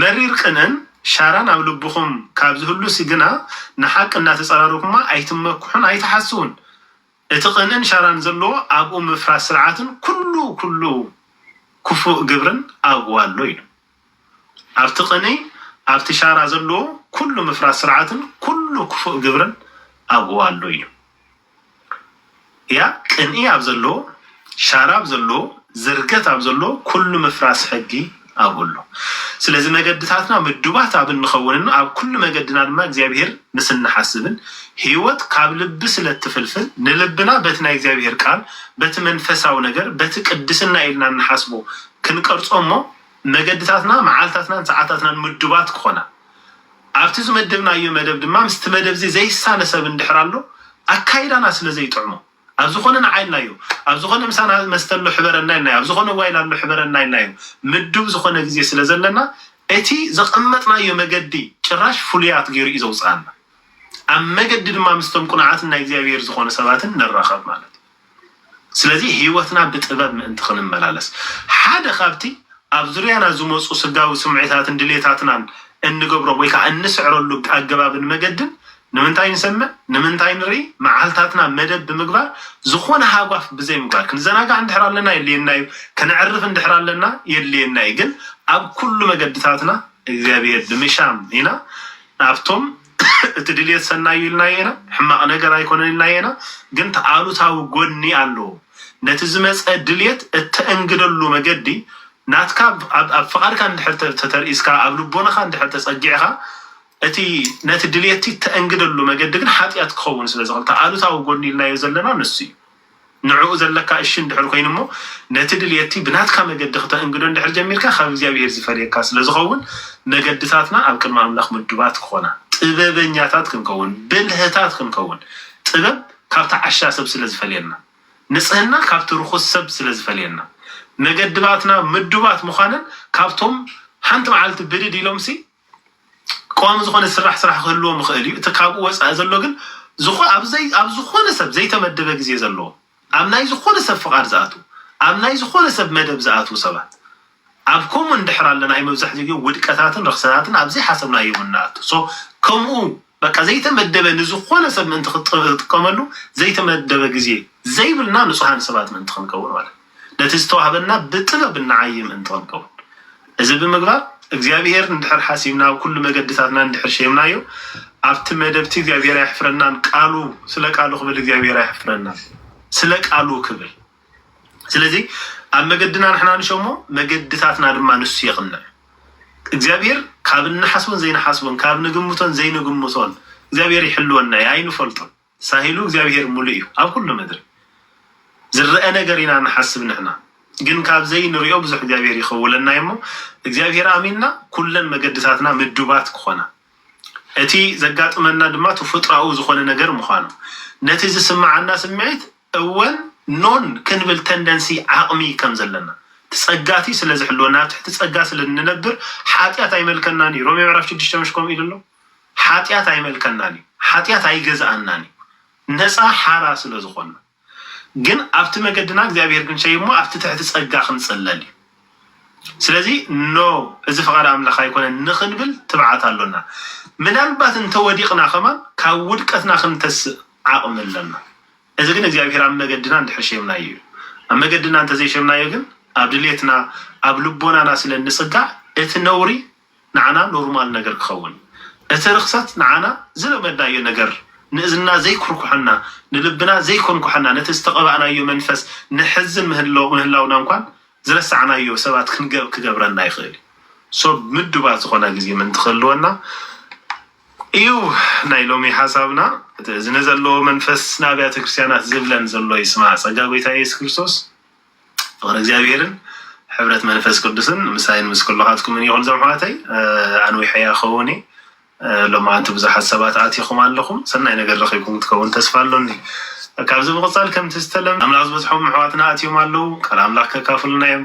መሪር ቅንእን ሻራን ኣብ ልብኹም ካብ ዝህሉሲ ግና ንሓቂ እናተጸራረኩማ ኣይትመክሑን ኣይትሓስዉን። እቲ ቅንእን ሻራን ዘለዎ ኣብኡ ምፍራስ ስርዓትን ኩሉ ኩሉ ክፉእ ግብርን ኣብኡ ኣሎ ኢሉ። ኣብቲ ቅንኢ ኣብቲ ሻራ ዘለዎ ኩሉ ምፍራስ ስርዓትን ኩሉ ክፉእ ግብርን ኣብኡ ኣሎ ኢሉ። እያ ቅንኢ ኣብ ዘለዎ ሻራ ኣብ ዘለዎ ዝርገት ኣብ ዘለዎ ኩሉ ምፍራስ ሕጊ ኣብኡ ኣሎ። ስለዚ መገድታትና ምዱባት ኣብ እንኸውንን ኣብ ኩሉ መገድና ድማ እግዚኣብሄር ምስ እንሓስብን ህይወት ካብ ልቢ ስለ እትፍልፍል ንልብና በቲ ናይ እግዚኣብሄር ቃል በቲ መንፈሳዊ ነገር በቲ ቅድስና ኢልና እንሓስቦ ክንቀርጾ እሞ መገድታትና፣ መዓልታትናን ሰዓታትናን ምዱባት ክኾና፣ ኣብቲ ዝመደብናዮ መደብ ድማ ምስቲ መደብዚ ዘይሳነ ሰብ እንድሕር ኣሎ ኣካይዳና ስለ ዘይጥዕሞ፣ ኣብ ዝኾነ ንዓ ኢልናዮ፣ ኣብ ዝኾነ ምሳና መስተ ኣሎ ሕበረና ኢልናዮ፣ ኣብ ዝኾነ ጓይላ ኣሎ ሕበረና ኢልናዮ ምዱብ ዝኾነ ግዜ ስለ ዘለና፣ እቲ ዘቐመጥናዮ መገዲ ጭራሽ ፍሉያት ገይሩ እዩ ዘውጽኣና። ኣብ መገዲ ድማ ምስቶም ቅኑዓትን ናይ እግዚኣብሔር ዝኾኑ ሰባትን ንራኸብ ማለት እዩ። ስለዚ ህይወትና ብጥበብ ምእንቲ ኽንመላለስ፣ ሓደ ኻብቲ ኣብ ዙርያና ዚመጹ ስጋዊ ስምዒታትን ድሌታትናን እንገብሮ ወይ ከኣ እንስዕረሉ ኣገባብን መገድን፣ ንምንታይ ንሰምዕ፣ ንምንታይ ንርኢ፣ መዓልታትና መደብ ብምግባር ዝዀነ ሃጓፍ ብዘይምግባር። ክንዘናጋዕ እንድሕር ኣለና የድልየና እዩ፣ ከነዕርፍ እንድሕር ኣለና የድልየና እዩ፣ ግን ኣብ ኵሉ መገድታትና እግዚኣብሄር ብምሻም ኢና ናብቶም። እቲ ድልየት ሰናይ እዩ ኢልናዮ ኢና፣ ሕማቕ ነገር ኣይኮነን ኢልናዮ ኢና፣ ግን እቲ ኣሉታዊ ጎኒ ኣለዎ። ነቲ ዝመጸ ድልየት እተእንግደሉ መገዲ ናትካ ኣብ ኣብ ፍቓድካ እንድሕር ተ ተተርኢስካ ኣብ ልቦናኻ እንድሕር ተጸጊዕኻ እቲ ነቲ ድልየትቲ እተእንግደሉ መገዲ ግን ሓጢኣት ክኸውን ስለ ዝኽእል እቲ ኣሉታዊ ጎኒ ኢልናዮ ዘለና ንሱ እዩ። ንዕኡ ዘለካ እሺ እንድሕር ኮይኑ እሞ ነቲ ድልየቲ ብናትካ መገዲ ክተእንግዶ እንድሕር ጀሚርካ ካብ እግዚኣብሄር ዝፈልየካ ስለ ዝኸውን መገድታትና ኣብ ቅድሚ ኣምላኽ ምዱባት ክኾና ጥበበኛታት ክንከውን ብልህታት ክንከውን ጥበብ ካብቲ ዓሻ ሰብ ስለ ዝፈልየና ንጽህና ካብቲ ርኹስ ሰብ ስለ ዝፈልየና መገድባትና ምዱባት ምዃነን ካብቶም ሓንቲ መዓልቲ ብድድ ኢሎምሲ ቀዋሚ ዝኾነ ዝስራሕ ስራሕ ክህልዎም ይኽእል እዩ። እቲ ካብኡ ወጻኢ ዘሎ ግን ዝኾ ኣብ ዘይ ኣብ ዝኾነ ሰብ ዘይተመደበ ግዜ ዘለዎም ኣብ ናይ ዝኾነ ሰብ ፍቓድ ዝኣትዉ ኣብ ናይ ዝኾነ ሰብ መደብ ዝኣትዉ ሰባት ኣብ ኮሙን እንድሕር ኣለና እዩ መብዛሕትኡ ግዜ ውድቀታትን ረኽሰታትን ኣብ ዘይሓሰብናዮ ኢና እንኣቱ so ከምኡ በቃ ዘይተመደበ ንዝኾነ ሰብ ምእንቲ ክትጥቀመሉ ዘይተመደበ ግዜ ዘይብልና ንጹሃን ሰባት ምእንቲ ክንከውን ማለት እዩ። ነቲ ዝተዋህበና ብጥበብ እንዓዪ ምእንቲ ክንከውን እዚ ብምግባር እግዚኣብሄር እንድሕር ሓሲብና ኣብ ኩሉ መገድታትና እንድሕር ሸይምናዮ ኣብቲ መደብቲ እግዚኣብሄር ኣየሕፍረናን ቃሉ ስለ ቃሉ ክብል እግዚኣብሄር ኣየሕፍረናን ስለ ቃሉ ክብል ስለዚ ኣብ መገድና ንሕና ንሸሞ መገድታትና ድማ ንሱ የቕንዕ። እግዚኣብሔር ካብ እንሓስቦን ዘይንሓስቦን ካብ ንግምቶን ዘይንግምቶን እግዚኣብሔር ይሕልወና እዩ ኣይንፈልጦን። ሳሂሉ እግዚኣብሔር ሙሉእ እዩ ኣብ ኩሉ ምድሪ ዝረአ ነገር ኢና ንሓስብ ንሕና ግን ካብ ዘይንሪኦ ብዙሕ እግዚኣብሔር ይኸውለና እዩ እሞ እግዚኣብሔር ኣሚንና ኩለን መገድታትና ምዱባት ክኾና እቲ ዘጋጥመና ድማ ተፈጥሮኣዊ ዝኾነ ነገር ምዃኑ ነቲ ዝስምዓና ስምዒት እወን ኖን ክንብል ተንደንሲ ዓቕሚ ከም ዘለና እቲ ጸጋቲ ስለ ዝሕልወና ኣብ ትሕቲ ጸጋ ስለ እንነብር ሓጢኣት ኣይመልከናን እዩ ሮሜ ምዕራፍ ሽዱሽተ ምሽ ከምኡ ኢሉ ኣሎ ሓጢኣት ኣይመልከናን እዩ ሓጢኣት ኣይገዝኣናን እዩ ነጻ ሓራ ስለ ዝኾንና ግን ኣብቲ መገድና እግዚኣብሔር ግን ሸይ እሞ ኣብቲ ትሕቲ ጸጋ ክንጽለል እዩ ስለዚ ኖ እዚ ፍቓድ ኣምላኽ ኣይኮነን ንኽንብል ትብዓት ኣሎና ምናልባት እንተወዲቕና ከማን ካብ ውድቀትና ክንተስእ ዓቕሚ ኣለና እዚ ግን እግዚኣብሄር ኣብ መገድና እንድሕር ሼምናዮ እዩ። ኣብ መገድና እንተ ዘይሼምናዮ ግን ኣብ ድሌትና ኣብ ልቦናና ስለ እንጽጋዕ እቲ ነውሪ ንዓና ኖርማል ነገር ክኸውን እዩ። እቲ ርኽሰት ንዓና ዝለመድናዮ ነገር ንእዝንና ዘይኩርኩሐና ንልብና ዘይኮንኩሐና ነቲ ዝተቐባእናዮ መንፈስ ነሕዝን ምህላውና እንኳን ዝረሳዕናዮ ሰባት ክንገብ ክገብረና ይኽእል እዩ። so ምዱባት ዝኾና ግዜ ምእንቲ ክህልወና እዩ ናይ ሎሚ ሓሳብና እዚ ንዘለዎ መንፈስ ንኣብያተ ክርስትያናት ዝብለን ዘሎ ይስማዕ ጸጋ ጎይታ ኢየሱስ ክርስቶስ ፍቅሪ እግዚኣብሔርን ሕብረት መንፈስ ቅዱስን ምሳይን ምስ ኩልኻትኩምን ይኹን ዞም ኣሕዋተይ ኣንዊሐ እያ ክኸውን እየ ሎማዓንቲ ብዙሓት ሰባት ኣቲኹም ኣለኹም ሰናይ ነገር ረኺብኩም ክትከውን ተስፋ ኣሎኒ ካብዚ ምቕጻል ከምቲ ዝተለምደ ኣምላኽ ዝበጽሖም ኣሕዋትና ኣትዮም ኣለዉ ቃል ኣምላኽ ከካፍሉና እዮም